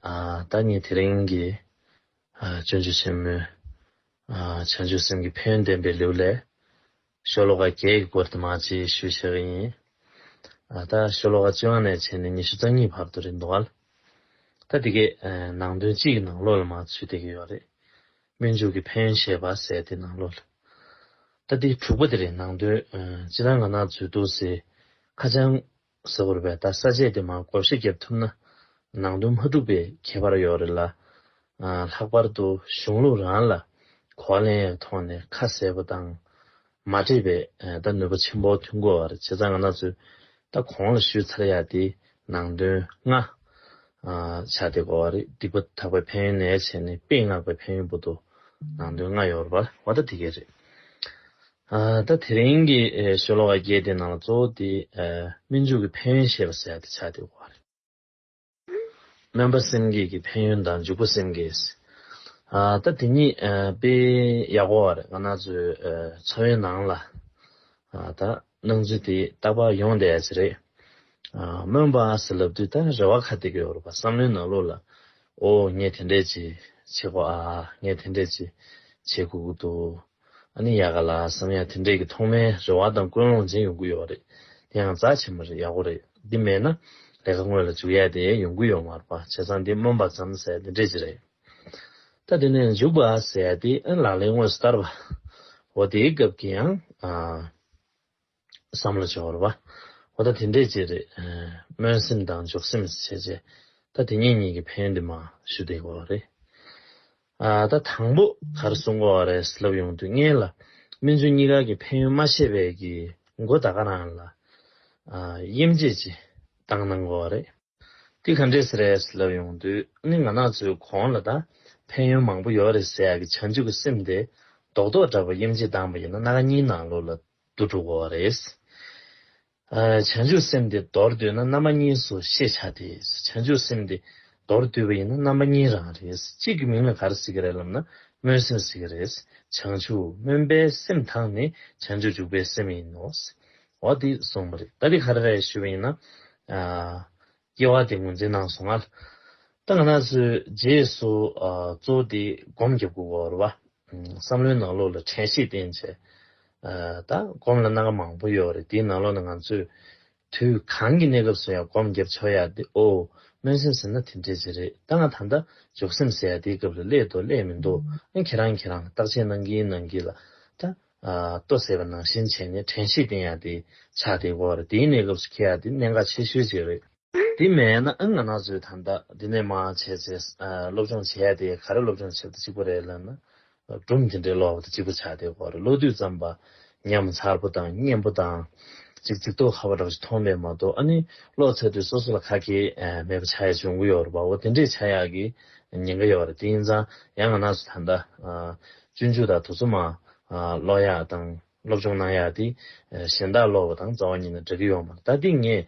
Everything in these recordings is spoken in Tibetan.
བདག་ཉིད་དེ་རིང་གི་སྤྱོད་འཇུག་ཆེན་མོའི་བྱང་ཆུབ་སེམས་ཀྱི་ཕན་ཡོན་བསྟན་པའི་ལེའུ་ལས་ཤོ་ལོ་ཀ་བརྒྱད་ཀྱི་སྐོར་དུ་མ་གཅིག་ཞུ་བྱེད་ཀྱི་ཡིན། ད་ཤོ་ལོ་ཀ་བཅུ་དབང་ནས་བྱས་ནས་ཉི་ཤུ་རྩ་གཉིས་བར་དུ་རེད་འདུག། ད་དེ་གའི་ནང་དོན་སྤྱི་ཡི་ནང་ལོགས་ལ་མ་ཚུད་བསྡད་ཀྱི་ཡོད་རེད། སྨོན་འཇུག་གི་ཕན་ཡོན་བཤད་པ་ཟད་དེ་ནང་ལོགས་ལ། ད་དེའི་དྲུག་པ་དེ་རེད་ནང་དོན་སྤྱི་ནང་ང་ནག་ཚུད་འདུག་ཟེར་ཁ་བྱང་གཟིགས་བར་བས་ད་ས་བཅད་དེ་མང་གོ་བཞི་བརྒྱབ་ཐུབ་ན་ནང་དོན་མ་འགྲུབ་པའི་ཁྱད་པར་ཡོད་རེད་ལ། ལྷག་པར་དུ་གཞུང་ལུགས་རང་ལ་གོ་བ་ལེན་ཡའི་ཐོག་ནས་ཁ་གསལ་པོ་དང་མ་འདྲེས་པས་ད་ནུས་པ་ཆེན་པོ་ཐོན་དགོས་བར་བྱས་ཙང་ང་ནག་ཚོས་ད་གོང་ལ་ཞུས་ཚར་ཡ་དེ་ནང་དོན་ང། ཆ་དེ་གོ་བ་རེད་སྡིག་པ་དག་པའི་ཕན་ཡོན་ནས་བྱས་ནས་དཔེ་མངགས་པའི་ཕན་ཡོན་པོ་ཏོ་ནང་དོན་ང་ཡོད་རེད་པ་བ་ད་དེ་གས་རེད། ད་དེ་རིང་གི་ཤོ་ལོ་ཀ་བརྒྱད་དེའི་ནང་ལ་གཙོ་བོ་དེ་སྨིན་འཇུག་གི་ཕན་ཡོན་ཞེས་པ་གསལ་ཏེ་ཆགས་ཏེ་འོག་སྨོན་པ་སེམས་བསྐྱེད་ཀྱི་ཕན་ཡོན་དང་འཇུག་པ་སེམས་བསྐྱེད། ད་དེ་གཉིས་དཔེ་ཡག་པོ་བར་ང་ན་ཚོའི་འཚོ་བའི་ནང་ལ་ད་སྣང་ཚུལ་དེ་རྟག་པར་ཡོང་བསྡད་ཡ་ཆེ་རེད། སྨོན་པ་ཟེར་ལབ་དུས་ད་རེ་བ་ཁ་ཏི་གི་བོར་བ་བསམ་བློའི་ནང་ལུགས་ལ་ཨོ་ངས་དེ་འདྲས་ཅིག་བྱེད་དགོས་ཨ་ངས་དེ་འདྲས་ཅིག་བྱེད་དགོས་ཀྱི་འདུག་ཨ་ནི་ཡག་ག་ལ་བསམ་ཡག་དེ་འདྲས་ཀྱི་ཐོག་མའི་རེ་བ་དང་ཀུན་སློང་འཛིན་ཡོང་གི་ཡོད་པ་རེད་དེ་ཡང་རྫ་ཆེན་མོ་རེད་ཡག་པོ་རེད་འདི་མེད་ན་ལས་ཀ་དངོས་ལ་འཇུག་ཡས་དེ་ཡོང་གི་ཡོད་མ་རེད་པ་བྱས་ཙང་འདི་སྨོན་པ་ཙམ་ཟེར་དེ་འདྲས་ཅི་རེད་ད་དེ་ནས་འཇུག་པ་ཟེར་དེ་ཨེ་ལག་ལེན་དངོས་སུ་བསྟར་བའོ་དེའི་སྐབས་ཀྱི་ཡང། བསམ་བློ་བྱེད་བར་བ། འོ་ད་དེ་འདྲས་ཅི་རེད། སྨོན་སེམས་དང་འཇོག་སེམས་བྱས་བྱས། ད་དེ་གཉིས་གཉིས་ཀྱི་ཕན་དེ་མ་ཞུ་བསྡད་དགོས་བ་རེད། ཨ་ད་དང་པོ་གར་གསུང་དགོས་བ་རེད་ལབ་ཡོང་དུས་ངེད་ལ་སྨིན་བྱུང་གཉིས་ཀ་གི་ཕན་ཡོན་མ་ཤེས་པས་ཀྱི་མགོ་ད་ག་རང་ལ་དབྱེ་འབྱེད་ཅི་བཏང་གནང་དགོས་བ་རེད། འདི་ག་འདྲས་རེད་ལབ་ཡོང་དུས་ནི་ང་ནག་ཚོའི་གོང་ལ་ད་ཕན་ཡོན་མང་པོ་ཡོད་རེད་ཟེར་གི་བྱང་ཆུབ་ཀྱི་སེམས་དེ་རྡོག་རྡོག་འདྲ་བོ་གཡེམ་བྱེད་སྡང་བ་ཡིན་ན་སྣ་ཁ་གཉིས་ནང་ལོག་ལ་བསྡུ་འགྲོ་དགོས་བ་རེད། བྱང་ཆུབ་སེམས་དེ་མདོར་བསྡུས་ན་རྣམ་པ་གཉིས་སུ་ཤེས་བྱ་སྟེ་བྱང་ཆུབ་སེམས་དེ་མདོར་བསྡུས་པ་ཡིན་ན་རྣམ་པ་གཉིས་རང་རེད་གཅིག་གི་མིང་ལ་ག་རེ་ཟེར་གི་རེད་ལབ་ན་སྨོན་སེམས་ཟེར་གི་རེད་བྱང་ཆུབ་སྨོན་པའི་སེམས་དང་ནི་བྱང་ཆུབ་འཇུག་པའི་སེམས་ཡིན་ནོ། འོ་དེ་སོང་མ་རེད་ད་དེ་ག་རེ་རེད་ཞུས་པ་ཡིན་ན། སྐྱེ་བ་དེ་ངོས་འཛིན་གནང་སོང་ང། ད་ང་ན་ཚོས་རྗེས་སུ་གཙོ་བོ་དེ་སྒོམ་རྒྱབ་དགོས་གོ་རེད་བ། བསམ་བློའི་ནང་ལོགས་ལ་དྲན་ཤེས་བསྟེན་བྱས། ད་སྒོམ་ལ་གནང་ཀ་མང་པོ་ཡོད་རེད་དེའི་ནང་ལོགས་ན་ང་ཚོས་དུས་གང་གི་གནས་སྐབས་སུ་ཡང་སྒོམ་རྒྱབ་བྱོས་ཡག་དེ་ཨོ་སྨོན་སེམས་ཟེར་ན་དེ་འདྲས་ཅིག་རེད་ད་ང་ད་ལྟ་འཇོག་སེམས་ཟེར་ཡག་དེའི་སྐབས་ལ་སླད་འདུག་སླད་མི་འདུག་ཨ་ཁྱེད་རང་ཁྱེད་རང་བརྟག་དཔྱད་གནང་གིན་གནང་གིན་ལ་ད། ལྟོས་ཟེར་བ་ནང་བཞིན་བྱས་ནས་དྲན་ཤེས་བསྟེན་ཡག་དེ་ཆགས་དེ་གོ་རེད་དེའི་གནས་སྐབས་སུ་ཁྱེད་ཡག་དེ་གནད་འགག་ཆེ་ཤོས་ཅིག་རེད། དེ་མེད་ན་ཨང་ང་ནག་ཚོས་ཐ་མདའ་དེ་འདྲས་མ་བྱས་ཚེ་སློབ་སྦྱོང་བྱས་ཡག་དེ་ག་རེ་སློབ་སྦྱོང་བྱས་ཏེ་གཅིག་པོ་རེད་ལབ་ན་སྦྲུམ་དེ་འདྲས་ལོག་པ་དེ་གཅིག་པོ་ཆགས་དེ་གོ་རེད་ལོ་དུས་ཙམ་པ་ཉམས་མཚར་པོ་དང་སྙན་པོ་དང་ཅིག་ཚིག་ཐོག་ཁ་བ་འདྲ་པོ་ཞིག་མཐོང་མེད་མ་གཏོགས་ཨ་ནི་ཀློག་ཚར་དུས་སོ་སོ་ལ་ཁ་ཁྱེད་མེད་པ་ཆགས་ཡག་བྱུང་གི་ཡོད་རེད་པའོ་དེ་འདྲས་ཆགས་ཡག་གི་ཉེན་ཁ་ཡོད་རེད་དེ་ཡིན་ཙང་ཡང་ང་ནག་ཚོས་ཐ་མདའ་སྤྱོད་འཇུག་དང་དུ་རྩོམ་མ། ཀློག་ཡག་དང་སློབ་སྦྱོང་གནང་ཡག་དེ། གཞན་དག་ཀློག་པ་དང་རྩ་བ་ཉིད་ནས་འདྲ་གི་ཡོང་མ་ད་ཏིག་ངས།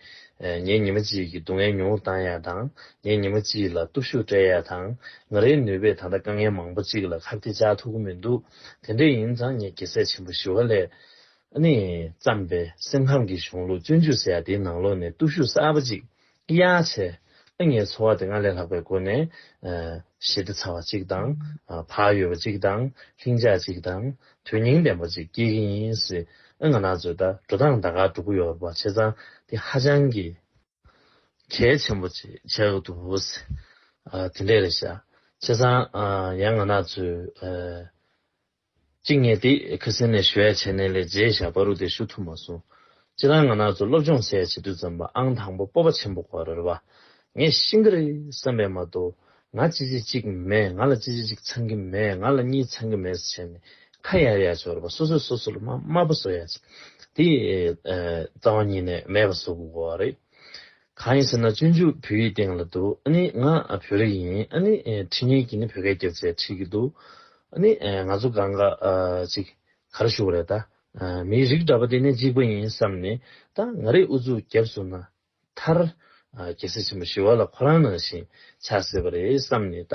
ངའི་ཉི་མ་གཅིག་གི་སྡུག་བསྔལ་ཉུང་བོ་བཏང་ཡག་དང་ངའི་ཉི་མ་གཅིག་ལ་སྟོབས་ཤུགས་སྤྲད་ཡག་དང། ང་རའི་ནུས་པས་ད་ལྟ་དཀའ་ངལ་མང་པོ་གཅིག་ལ་ཁ་བཏེ་བཅག་ཐུབ་གི་མི་འདུག་དེ་འདྲས་ཡིན་ཙང་ངས་དགེ་ཚད་ཆེན་པོ་ཞི་བ་ལྷས། ནས་བརྩམས་པའི་སེམས་ཁམས་ཀྱི་གཞུང་ལུགས་སྤྱོད་འཇུག་ཟེར་ཡག་དེའི་ནང་ལོགས་ནས་སྟོབས་ཤུགས་གསར་པ་གཅིག་གཡག་བྱས། ཨ་མྱེས་འཚོ་བ་དེ་སྔར་ལས་ལྷག་པའི་སྒོ་ནས། ཞི་བདེ་ཚ་བ་གཅིག་དང། བག་ཡོད་པ་གཅིག་དང། ལྷིང་འཇགས་གཅིག་དང། དོན་སྙིང་ལྡན་པ་གཅིག་སྐྱེལ་གྱི་ཡིན་སྲིད། ཨ་ང་ནག་ཚོས་ད་འགྲོ་སྟངས་ད་ག་འགྲོ་གི་ཡོད་པ་བྱས་ཙང་དེ་ཧ་ཅང་གི། གལ་ཆེན་པོ་བྱས་གི་འདུག་དེ་འདྲས་རེད་བྱས་ཙང། ཡང་ང་ནག་ཚོས། གཅིག་ངས་དེ་ཁི་སི་ནས་ཞུ་ཡ་བྱས་ནས་ལས་བྱེད་བཞག་པ་རུ་དེ་ཞུ་ཐུབ་མ་སོང། སྤྱིར་བཏང་ང་ནག་ཚོ་སློབ་སྦྱོང་སའི་བྱེད་དུས་ཙམ་པ་ཨང་དང་པོ་སྤོབས་པ་ཆེན་པོ་གོ་རེར་བ། ངས་ཤི་འགྱི་རེད་བསམ་པས་མ་གཏོགས་ང་ཅི་བྱེད་ཅིག་མེད་ང་ལ་ཅི་བྱེད་ཅིག་ཚང་གི་མེད་ང་ལ་གཉིད་ཚང་གི་མེད་ཟེར་བྱས་ནས་ཁ་ཡར་ཡར་བྱོ་རེད་བ་སོ་སོས་སོ་སོ་ལ་སྨྲ་སྨྲ་པོ་བཟོ་ཡ་ཅིག་དེ་རྩ་བ་ཉིད་ནས་མེད་པ་བཟོ་དགོས་གོ་རེད། གང་ཡིན་ཟེར་ན་སྤྱོད་འཇུག་བོད་ཡིག་སྟེང་ལ་འདུག་ཨ་ནི་ང་བོད་རིགས་ཡིན་ཨ་ནི་ཁྲི་ངན་གྱིས་ནི་བོད་སྐད་སྐྱོད་ཚེ་ཁྲིད་ཀྱི་འདུག་ཨ་ནི་ང་ཚོ་ག་འགའ་ཅིག་ག་རེ་ཞུ་བ་རེད་ད། མིའི་རིགས་འདྲ་པ་དེ་ནི་གཅིག་པ་ཡིན་བསམ་ནས་ད་ང་རེ་ཨུ་ཚུགས་རྒྱབ་བཟུང་ན་མཐར། རྒྱལ་སྲས་ཆེན་པོ་ཞི་བ་ལ་ཁོ་རང་ནང་བཞིན་ཆགས་སྲིད་པ་རེད་བསམ་ནས་ད་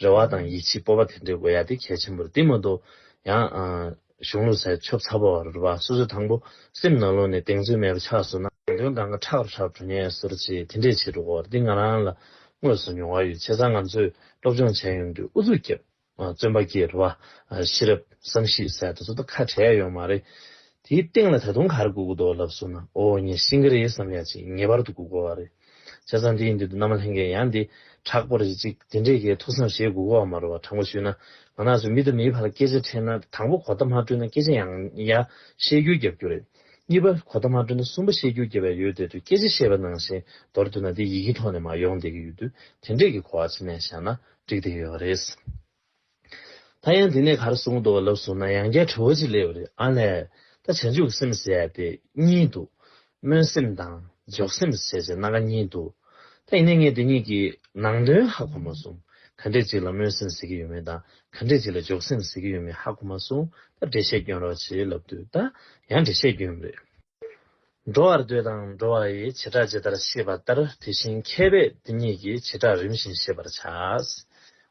རེ་བ་དང་ཡིད་ཆེས་སྤོབས་པ་དེ་འདྲའི་དགོས་ཡ་དེ་གལ་ཆེན་པོར་བསྟིམ་མ་གཏོགས་ཡང། གཞུང་ལུགས་ཚད་ཆོབ་ཚ་བོ་རུ་བ་སོ་སོའི་དང་པོ་སེམས་ནང་ལོག་ནས་གདེང་ཚོད་མེད་པ་ཆགས་སོང་ན། དོན་དང་གི་ཁྲག་རུ་ཧྲག་གྲུ་ངན་ཟུར་བཅད་དེ་འདྲས་བྱེད་འགྲོ་འོ་འདི་ང་རང་ལ་དངོས་སུ་མྱོང་བ་ཡོད་བྱས་ཙང་ང་ཚོས་སློབ་སྦྱོང་བྱས་ཡོང་དུས་ཨུ་ཚུགས་རྒྱབ་བརྩོན་པ་སྐྱེས་རུ་བ་ཤེས་རབ་བསམ་གཞིགས་ཟད་དུ་ཚོ་ད་ཁ་བྲལ་ཡོང་མ་རེད་དེའི་སྟེང་ལ་ད་དུང་ག་རེ་སྒུག་གི་འདུག་ལབ་སོང་ན་འོ་ངས་ཤིང་གི་རེད་བསམ་ཡ་ཅིག་ངེས་པར་དུ་སྒུག་དགོས་བ་རེད། བྱས་ཙང་དེ་ཡི་མདུན་དུ་ནམ་ལྷན་གྱི་ཡང་འདི་དྲག་པོ་རེ་ཅིག་དེ་འདྲའི་གའི་ཐུགས་སམ་ཞེས་དགུག་གོ་བ་མ་རུ་བ་དྲང་པོ་ཞུས་ན་ང་ནགས་སུ་མི་དང་མིའི་བར་ལ་སྐད་ཆ་འཕྲད་ན་དང་པོ་གོ་བརྡ་མ་སྤྲོད་ན་སྐད་ཆ་ཡང་ཡང་བཤད་རྒྱུ་བརྒྱབ་རྒྱུ་རེད། གཉིས་པ་གོ་བརྡ་མ་སྤྲོད་ན་གསུམ་པ་བཤད་རྒྱུ་བརྒྱབ་པའི་ཡུལ་དེ་དུ་སྐད་ཆ་བཤད་པ་ནང་བཞིན་མདོར་བསྡུས་ན་དེ་ཡི་གེ་ཐོག་ནས་མ་ཡོང་བསྡད་ཀྱི་ཡོད་དུས་དེ་འདྲས་ཀྱི་གོ་བ་ཕྱི་ནས་བཞག་ན་འགྲིག་བསྡད་ཡོད་པ་རེད། ད་ཡང་འདི་ནས་གར་སོང་འདུག་ལབ་སོང་ན་ཡང་བསྐྱར་དྲི་བ་ཅིག་སླེབས་རེད་ཨ་ལས། ད་བྱང་ཆུབ་སེམས་ཟེར་ཡ་དེ་གཉིས་འདུག། སྨོན་སེམས་དང་འཇོག་སེམས་ཟེར་བྱས་སྣ་ཁ་གཉིས་འདུག། ད་ཡིན་ནའི་ངས་དེ་གཉིས་ཀྱི་ནང་དོན་ཧ་གོ་མ་སོང། ག་འདྲས་ཅིག་ལ་སྨོན་སེམས་ཟེར་གྱི་ཡོད་མེད་དང་ག་འདྲས་ཅིག་ལ་འཇོག་སེམས་ཟེར་གྱི་ཡོད་མེད་ཧ་གོ་མ་སོང། ད་འགྲེལ་བཤད་བསྐྱོན་རོགས་བྱས་ལབ་དུས་ད་ཡང་འགྲེལ་བཤད་བསྐྱོན་རེད། འགྲོ་བར་འདོད་དང་འགྲོ་བ་ཡི་བྱེ་བྲག་ཇི་ལྟར་ཤེས་པ་ལྟར་དེ་བཞིན་མཁས་པས་འདི་གཉིས་ཀྱི་བྱེ་བྲག་རིམ་བཞིན་ཤེས་པར་བྱ།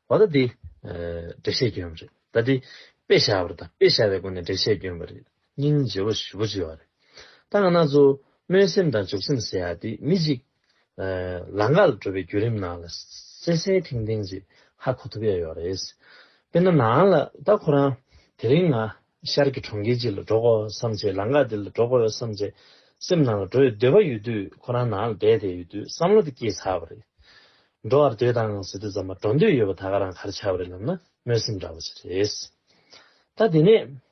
འོ་ད་འདི། འགྲེལ་བཤད་སྐྱོན་རེད། ད་འདི། དཔེ་བཞག་པར་ད་དཔེ་བཞག་པའི་སྒོ་ནས་འགྲེལ་བཤད་སྐྱོན་པ་རེད། སྙིང་རྗེ་བོ་བཞི་བོ་བརྗོད་བ་རེད། ད་ང་ན་ཚོ། སྨོན་སེམས་དང་འཇུག་སེམས་ཟེར་ཡ་འདི་མི་གཅིག། ལ་ངག་ལ་འགྲོ་བའི་བརྒྱུད་རིམ་ནང་ལ་གསལ་གསལ་ཐིང་ཐིང་ཞིག་ཧ་གོ་ཐུབ་ཡ་ཡོད་རེད། དཔེར་ན་ནང་ལ་ད་ཁོ་རང་དེ་རིང་ང་ཤར་གྱི་གྲོང་ཁྱེར་གཅིག་ལ་འགྲོ་དགོས་བསམ་བྱས་ལ་ངག་འདི་ལ་འགྲོ་དགོས་བསམ་བྱས་སེམས་ནང་ལ་འགྲོ་ཡི་འདོད་པ་ཡོད་དུས་ཁོ་རང་ནང་ལ་བསྡད་བསྡད་ཡོད་དུས་བསམ་བློ་དེ་སྐྱེས་ཚར་བ་རེད། འགྲོ་བར་འདོད་དང་ཟེར་དུས་ཙམ་མ་འགྲོ་འདོད་ཡོད་པ་ད་ག་རང་ག་རེ་ཆགས་པ་རེད་ལབ་ན་སྨོན་སེམས་འདྲ་བོ་ཞིག་རེད། ད་དེ་ནས་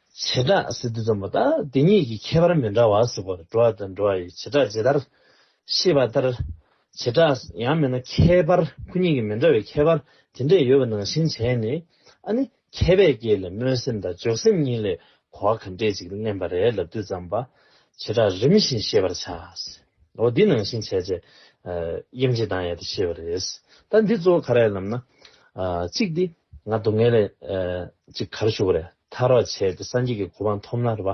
བྱེ་བྲག་སི་ཏུ་ཙམ་པོ་དང་དེ་གཉིས་ཀྱི་ཁྱད་པར་མི་འདྲ་བ་སོགས་པར་འགྲོ་བ་དང་འགྲོ་བ་ཡི་བྱེ་བྲག་ཇི་ལྟར་ཤེས་པ་ལྟར། བྱེ་བྲག་ཡང་མེད་ན་ཁྱད་པར་སྐུ་གཉིས་ཀྱི་མི་འདྲ་བའི་ཁྱད་པར་དེ་འདྲས་ཡོད་པ་ནང་བཞིན་བྱས་ནས་ཨ་ནི་མཁས་པས་སྐྱེས་ལས་སྨོན་སེམས་དང་འཇོག་སེམས་གཉིས་ལས་གོ་བ་ག་འདྲས་ཅིག་བསྣན་པ་རེད་ལབ་དུས་ཙམ་པ་བྱེ་བྲག་རིམ་བཞིན་ཤེས་པར་བྱའོ། འདི་ནང་བཞིན་བྱས་རྗེས་དབྱེ་འབྱེད་དང་ཡལ་དུ་ཤེས་པ་རེད། ད་འདི་གཙོ་བོ་ག་རེད་ལབ་ན། གཅིག་འདི་ང་སྡུག་བསྔལ་ལས་ཅིག་གར་ཞུགས་པ་རེད། ཐ་རག་བྱས་ཏེ་སངས་རྒྱས་ཀྱི་གོ་འཕང་ཐོབ་ན་རེ་བ་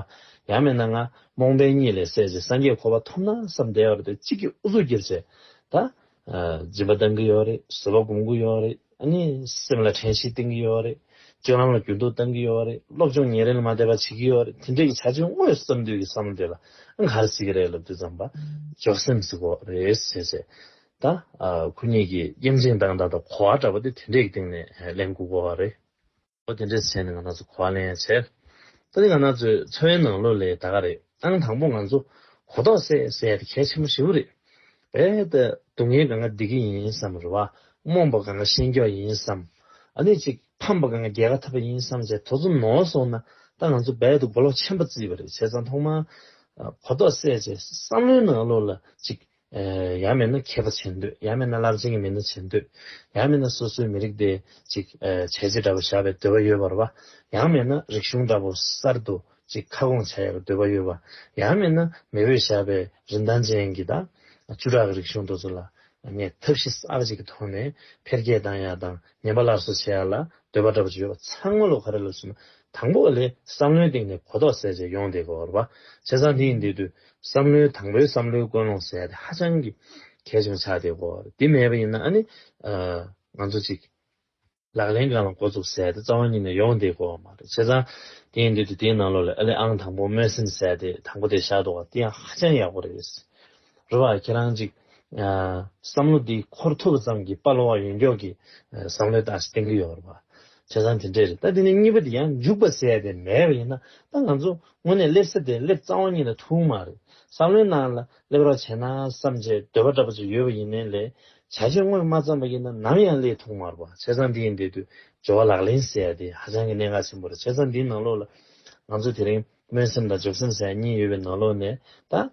ཡང་མེད་ན་ང་རྨོངས་པའི་གཉིད་ལས་སད་ཅིང་སངས་རྒྱས་གོ་བ་ཐོབ་ན་བསམ་བདེ་བར་དུ་གཅིག་གིས་ཨུ་ཚུགས་བགྱིར་བྱེད་ད། སྦྱིན་པ་གཏང་གི་ཡོད་རེད་བཟོད་པ་སྒོམ་གི་ཡོད་རེད་ཨ་ནི་སེམས་ལ་དྲན་ཤེས་བསྟེན་གི་ཡོད་རེད་སྤྱོད་ལམ་ལ་འགྱུར་ལྡོག་གཏང་གི་ཡོད་རེད་སློབ་སྦྱོང་ཉིན་རེ་ལ་མ་བསྡད་པ་བྱེད་ཀྱི་ཡོད་རེད་དེ་འདྲའི་བྱ་སྤྱོད་དངོས་སུ་བརྩམས་དུས་ཀྱི་བསམ་བློ་དེ་ལ་ཨང་ག་རེ་བསྲེས་ཀྱི་རེད་ལབ་དུས་བརྩམས་པ་ཅོག་སེམས་སུ་འགོག་རེ་བྱས་བྱས་ད། ཁོ་གཉིས་ཀྱིས་དབྱེ་འབྱེད་བཏང་ད་ད་གོ་བ་འདྲ་པོ་དེ་དེ་འདྲའི་སྟེང་ནས་ལན་དགུ་གོ་བ་རེད། ཨོ་དེ་འདྲའི་ཟེར་ནས་ང་ནག་ཚོ་གོ་བ་ལེན་ཡ་བྱས། ད་ནི་ང་ནག་ཚོའི་འཚོ་བའི་ནང་ལོ་ལེགས་ད་ག་རེད་ཨང་དང་པོ་ང་ཚོ་གོ་ཐོག་སད་སད་དེ་གལ་ཆེན་པོ་ཧྲིལ་བོ་རེད། བས་ད་སྡུག་བསྔལ་ག་འང་སྡིག་གི་ཡིན་བསམ་རེ་བ་རྨོངས་པ་ག་འང་ཤེས་མགྱོགས་ཡིན་བསམ། ཨ་ནི་ཅིག་ཕམ་པ་ག་འང་རྒྱལ་ཁ་འཐབ་པ་ཡིན་བསམ་བྱས་དོ་ཚོ་ནོ་སོང་ན་ད་ང་ཚོ་བས་ད་མགོ་ལོག་ཆེན་པོ་བརྩིས་པ་རེད་བྱས་ཙང་ཐོག་མར་གོ་ཐོག་སད་བྱས་བསམ་བློའི་ནང་ལོ་ལ་ཅིག་ཡང་མེད་ན་མཁས་པ་བྱེད་འདོད་ཡང་མེད་ན་རླབས་ཆེན་གྱི་མི་སྣ་བྱེད་འདོད་ཡང་མེད་ན་སོ་སོའི་མི་རིགས་དེ་ཅིག་བྱས་རྗེས་འདྲ་པོ་བཞག་པའི་འདོད་པ་ཡོད་པར་བ་ཡང་མེད་ན་རིག་གཞུང་འདྲ་པོ་གསར་དུ་ཅིག་ཁ་སྐོང་བྱ་ཡག་པའི་འདོད་པ་ཡོད་བ་ཡང་མེད་ན་མེས་བོས་བཞག་པའི་རིན་ཐང་ཅན་གྱི་ད་བཅུ་ཕྲག་གི་རིག་གཞུང་འདོ་ཚོ་ལ་ངས་ཐབས་ཤེས་གསར་ཅིག་གི་ཐོག་ནས་འཕེལ་རྒྱས་བཏང་ཡག་དང་ཉེན་པ་སླར་གསོ་བྱེད་ཡག་ལ་འདོད་པ་འདྲ་པོ་ཅིག་ཡོད་བ་ཚང་མ་ལོ་ག་རེ་ལ་བྱུང་ན་དང་པོ་ལས་བསམ་བློའི་སྟེང་ནས་གོ་རྟོགས་སད་རྗེས་ཡོང་བསྡད་དགོས་བར་བ་བྱས་ཙང་དེ་ཡིན་དེ་དུས་བསམ་བློའི་དང་པོའི་བསམ་བློའི་ཀུན་སློང་ཟེར་དེ་ཧ་ཅང་གི་གལ་ཆེན་པོ་ཆགས་བསྡད་གོ། དེ་མེད་པ་ཡིན་ན་ཨ་ནི། ང་ཚོ་ཅིག། ལག་ལེན་གང་ལ་འགོ་བཙུགས་ཟེར་དེ་རྩ་བ་ཉིད་ནས་ཡོང་བསྡད་གོ་བ་མ་རེད། བྱས་ཙང། དེ་ཡིན་དུས་དེ་དེའི་ནང་ལོགས་ལས་ཨ་ལས་ཨང་དང་པོ་སྨོན་སེམས་ཟེར་དེ་དང་པོ་དེ་བཞག་འདུག་བ་དེ་ཡང་ཧ་ཅང་ཡག་པོ་རེད། རོ་བ། ཁྱེད་རང་ཅིག། བསམ་བློ་འདི་འཁོར་ཐུབ་པ་ཙམ་གྱིས་དཔའ་བློ་བ་ཡོན་མགྱོགས་ཀྱི་བསམ་བློའི་ལྟ་གཞི་གཏན་འཁེལ་ཡོང་བར་བྱ། བྱས་ཙང་དེ་འདྲས་རེད་ད་དེ་ནས་གཉིས་པ་དེ་ཡང་འཇུག་པ་ཟད་པས་མེད་པ་ཡིན་ན་ད་ང་ཚོ་དངོས་གནས་སླེབས་ས་དེ་སླེབས་རྩ་བ་ཉིད་ལ་ཐུག་མ་རེད་བསམ་བློའི་ནང་ལ་སླེབས་རོགས་བྱས་ན་བསམ་བྱའི་འདོད་པ་འདྲ་པོ་ཅིག་ཡོད་པ་ཡིན་ནའི་ལས་བྱ་བྱེད་དངོས་མ་བརྩམས་པ་ཡིན་ན་ནམ་ཡང་སླེས་ཐུག་མ་རེད་བྱས་ཙང་འདི་ཡིན་འདི་དུས་སྦྱོར་བ་ལག་ལེན་ཟད་དེ་ཧ་ཅང་གི་གནད་འགག་ཆེན་པོ་རེད་བྱས་ཙང་འདིའི་ནང་ལོགས་ལ་ང་ཚོ་དེ་རིང་སྨོན་སེམས་དང་འཇོག་སེམས་ཟེར་ཡ་གཉིས་ཡོད་པའི་ནང་ལོགས་ནས་ད།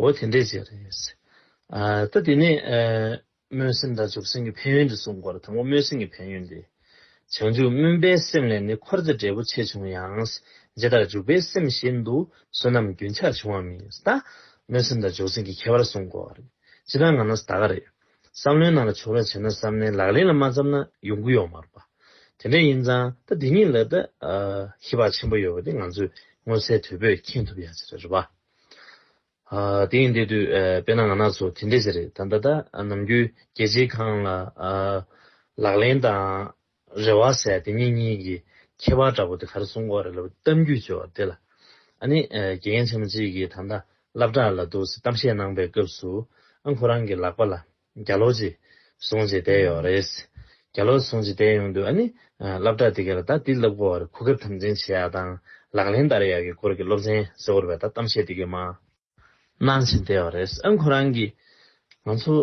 འོ་དེ་འདྲའི་རྗེས་རེད། ད་དེ་ནས་སྨོན་སེམས་དང་འཇུག་སེམས་ཀྱི་ཕན་ཡོན་དུ་གསུངས་སྐོར་དང་པོ་སྨོན་སེམས་ཀྱི་ཕན་ཡོན་ཏེ། བྱང་ཆུབ་སྨོན་པའི་སེམས་ལས་ནི་འཁོར་འདས་འབྲས་བུ་ཆེ་ཆུང་ཡང། ཇི་ལྟར་འཇུག་པའི་སེམས་བཞིན་དུ་བསོད་ནམས་རྒྱུན་ཆགས་འབྱུང་བ་མིན། ད་སྨོན་སེམས་དང་འཇུག་སེམས་ཀྱི་ཁྱད་པར་གསུངས་སྐོར། ཇི་ལྟར་ང་ན་ད་ག་རེད། བསམ་བློའི་ནང་ལ་བྱུང་རོགས་བྱས་ན་བསམ་ནས་ལག་ལེན་ལ་མ་བརྩམས་ན་ཡོང་གི་ཡོག་མ་རེད་པ། དེ་འདྲ་ཡིན་ཙང་ད་དེ་གཉིས་ལ་ད་ཧེ་བག་ཆེན་པོ་ཡོད་པ་དེ་ང་ཚོས་མངོན་གསལ་དོད་པོས་མཁྱེན་ཐུབ་ཡག་ཅིག་རེད་རེད་པ། དེ་ཡིན་དེ་དུས་དཔེ་ན་ང་ནག་ཚོ་དེ་འདྲས་ཟེར་རེད་ད་ད་ལྟ་ནམ་རྒྱུན་རྒྱལ་སྤྱིའི་ཁང་ལ་ལག་ལེན་དང་རེ་བ་ཟེར་དེ་གཉིས་གཉིས་ཀྱི་ཁྱད་པར་འདྲ་པོ་དེ་ག་རེ་གསུང་འོག་རེ་ལབ་གཏམ་རྒྱུད་བཅོས་བ་དེ་ལ་ཨ་ནི་དགེ་རྒན་ཆེན་མོ་གཅིག་གིས་ད་ལྟ་བསླབ་གྲྭ་ལ་འདུག་སའི་གཏམ་བཤད་གནང་པའི་སྐབས་སུ་ཨ་ཁོ་རང་གི་ལག་པ་ལ་རྒྱ་ལོག་ཅིག་སོང་ཅིག་བསྡད་ཡོད་རེད། རྒྱ་ལོག་སོང་ཅིག་བསྡད་ཡོང་དུས་ཨ་ནི། སླབ་གྲགས་དེ་གས་ལ་ད་དེ་སླབ་གོ་བར་གོ་སྐབས་དམ་འཛིན་བྱེད་ཡག་དང་ལག་ལེན་བསྟར་ཡག་གི་སྐོར་གི་སློབ་ཚན་གསལ་བོར་བས་ད་གཏམ་བཤད་དེ་གས་མ་གནང་བཞིན་བསྡད་ཡོད་རེད་ཨ་ཁོ་རང་གིས། ང་ཚོ་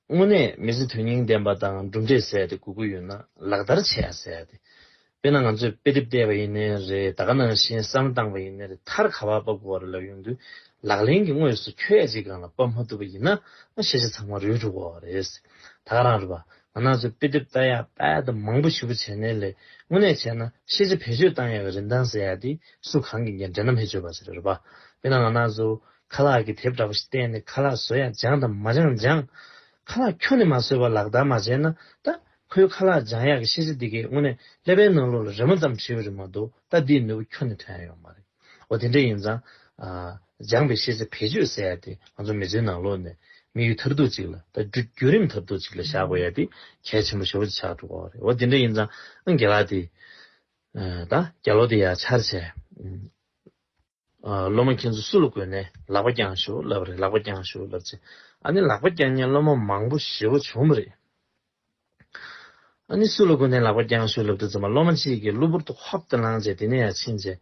དངོས་གནས་མི་ཚེ་དོན་སྙིང་ལྡན་པ་དང་གྲུབ་འབྲས་ཟད་དེ་དགོས་ཀི་ཡོད་ན་ལག་བསྟར་བྱེད་ཡག་ཟེར་ཡག་དེ། དཔེར་ན་ང་ཚོས་དཔེ་དེབ་བལྟས་པ་ཡིན་ནི་རེད་ད་ག་ནང་བཞིན་བསམ་བློ་བཏང་བ་ཡིན་ནི་རེད་མཐར་ག་བར་བབ་དགོས་བ་རེད་ལབ་ཡོང་དུས་ལག་ལེན་གྱི་དངོས་སུ་ཁྱོད་ཀྱིས་གང་ལ་བབ་མ་ཐུབ་པ་ཡིན་ན་ཤེས་བྱ་ཚང་མ་རུལ་འགྲོ་དགོས་བ་རེད། ད་ག་རང་རེད་པ་ང་ནང་ཚོས་དཔེ་དེབ་བལྟ་ཡག་དཔལ་དུ་མང་པོ་ཞུ་བ་བྱས་ནི་ལས་དངོས་གནས་བྱས་ན་ཤེས་བྱ་བེད་སྤྱོད་བཏང་ཡག་གི་རིན་ཐང་ཟེར་ཡག་དེ་སུ་གང་གིས་འགན་འདྲེན་ནམ་ཧེ་བཅོས་པ་ཟེར་རེད་པ་དཔེར་ན་ང་ནང་ཚོས་ཁ་ལག་གི་དེབ་འདྲ་པོ་ཞིག་བལྟས་ནི་ཁ་ལག་བཟོ་ཡག་སྦྱངས་དང་མ་སྦྱངས་སྦྱངས། ཁ་ལག་ཁྱོ་ནས་མ་བཟོས་བ་ལག་བསྟར་མ་བྱས་ན་ད་ཁོའི་ཁ་ལག་འཇང་ཡག་གི་ཤེས་བྱ་འདི་གའི་དངོས་གནས་ཀླད་པའི་ནང་ལོགས་ལ་རེ་མོ་ཙམ་བྲིས་པ་རེད་མ་གཏོགས་ལྟ་འདིའི་ནོར་བུ་ཁྱོན་ནས་ཐོན་ཡ་ཡོད་མ་རེད། འོ་དེ་འདྲ་ཡིན་ཙང། འཇང་པའི་ཤེས་བྱ་བེད་སྤྱོད་ཟེར་ཡ་དེ་ང་ཚོ་མི་ཚོའི་ནང་ལོགས་ནས་མི་ཡུལ་ཐར་ཐུག་ཅིག་ལ་ད་བརྒྱུད་རིམ་ཐར་ཐུག་ཅིག་ལ་བཞག་དགོས་ཡ་དེ་གལ་ཆེན་པོ་ཞོར་གྱི་ཆགས་འགྲོ་བ་རེད་འོ་དེ་འདྲ་ཡིན་ཙང། རྒྱ་ལག་དེ། ད་རྒྱ་ལོ་དེ་ཡ་ཆར་བྱས། སློབ་མ་ཁྱེད་ཚོ་སུ་ལ་བསྐོས་ནས་ལག་པ་བརྐྱངས་ཞུ་ལབ་རེད་ལག་པ་བརྐྱངས་ཞུ་ལབ་ཚེ་ཨ་ནི་ལག་པ་བརྐྱངས་ནས་སློབ་མ་མང་པོ་ཞི་བ་བྱུང་མ་རེད། ཨ་ནི་སུ་ལ་བསྐོས་ནས་ལག་པ་བརྐྱངས་ཞུ་ལབ་དུས་ཚང་མ་སློབ་མ་གཅིག་གིས་གློ་བུར་དུ་ཧོབ་ཏུ་ལངས་རྗེས་དེ་ནས་ཡར་ཕྱིན་རྗེས་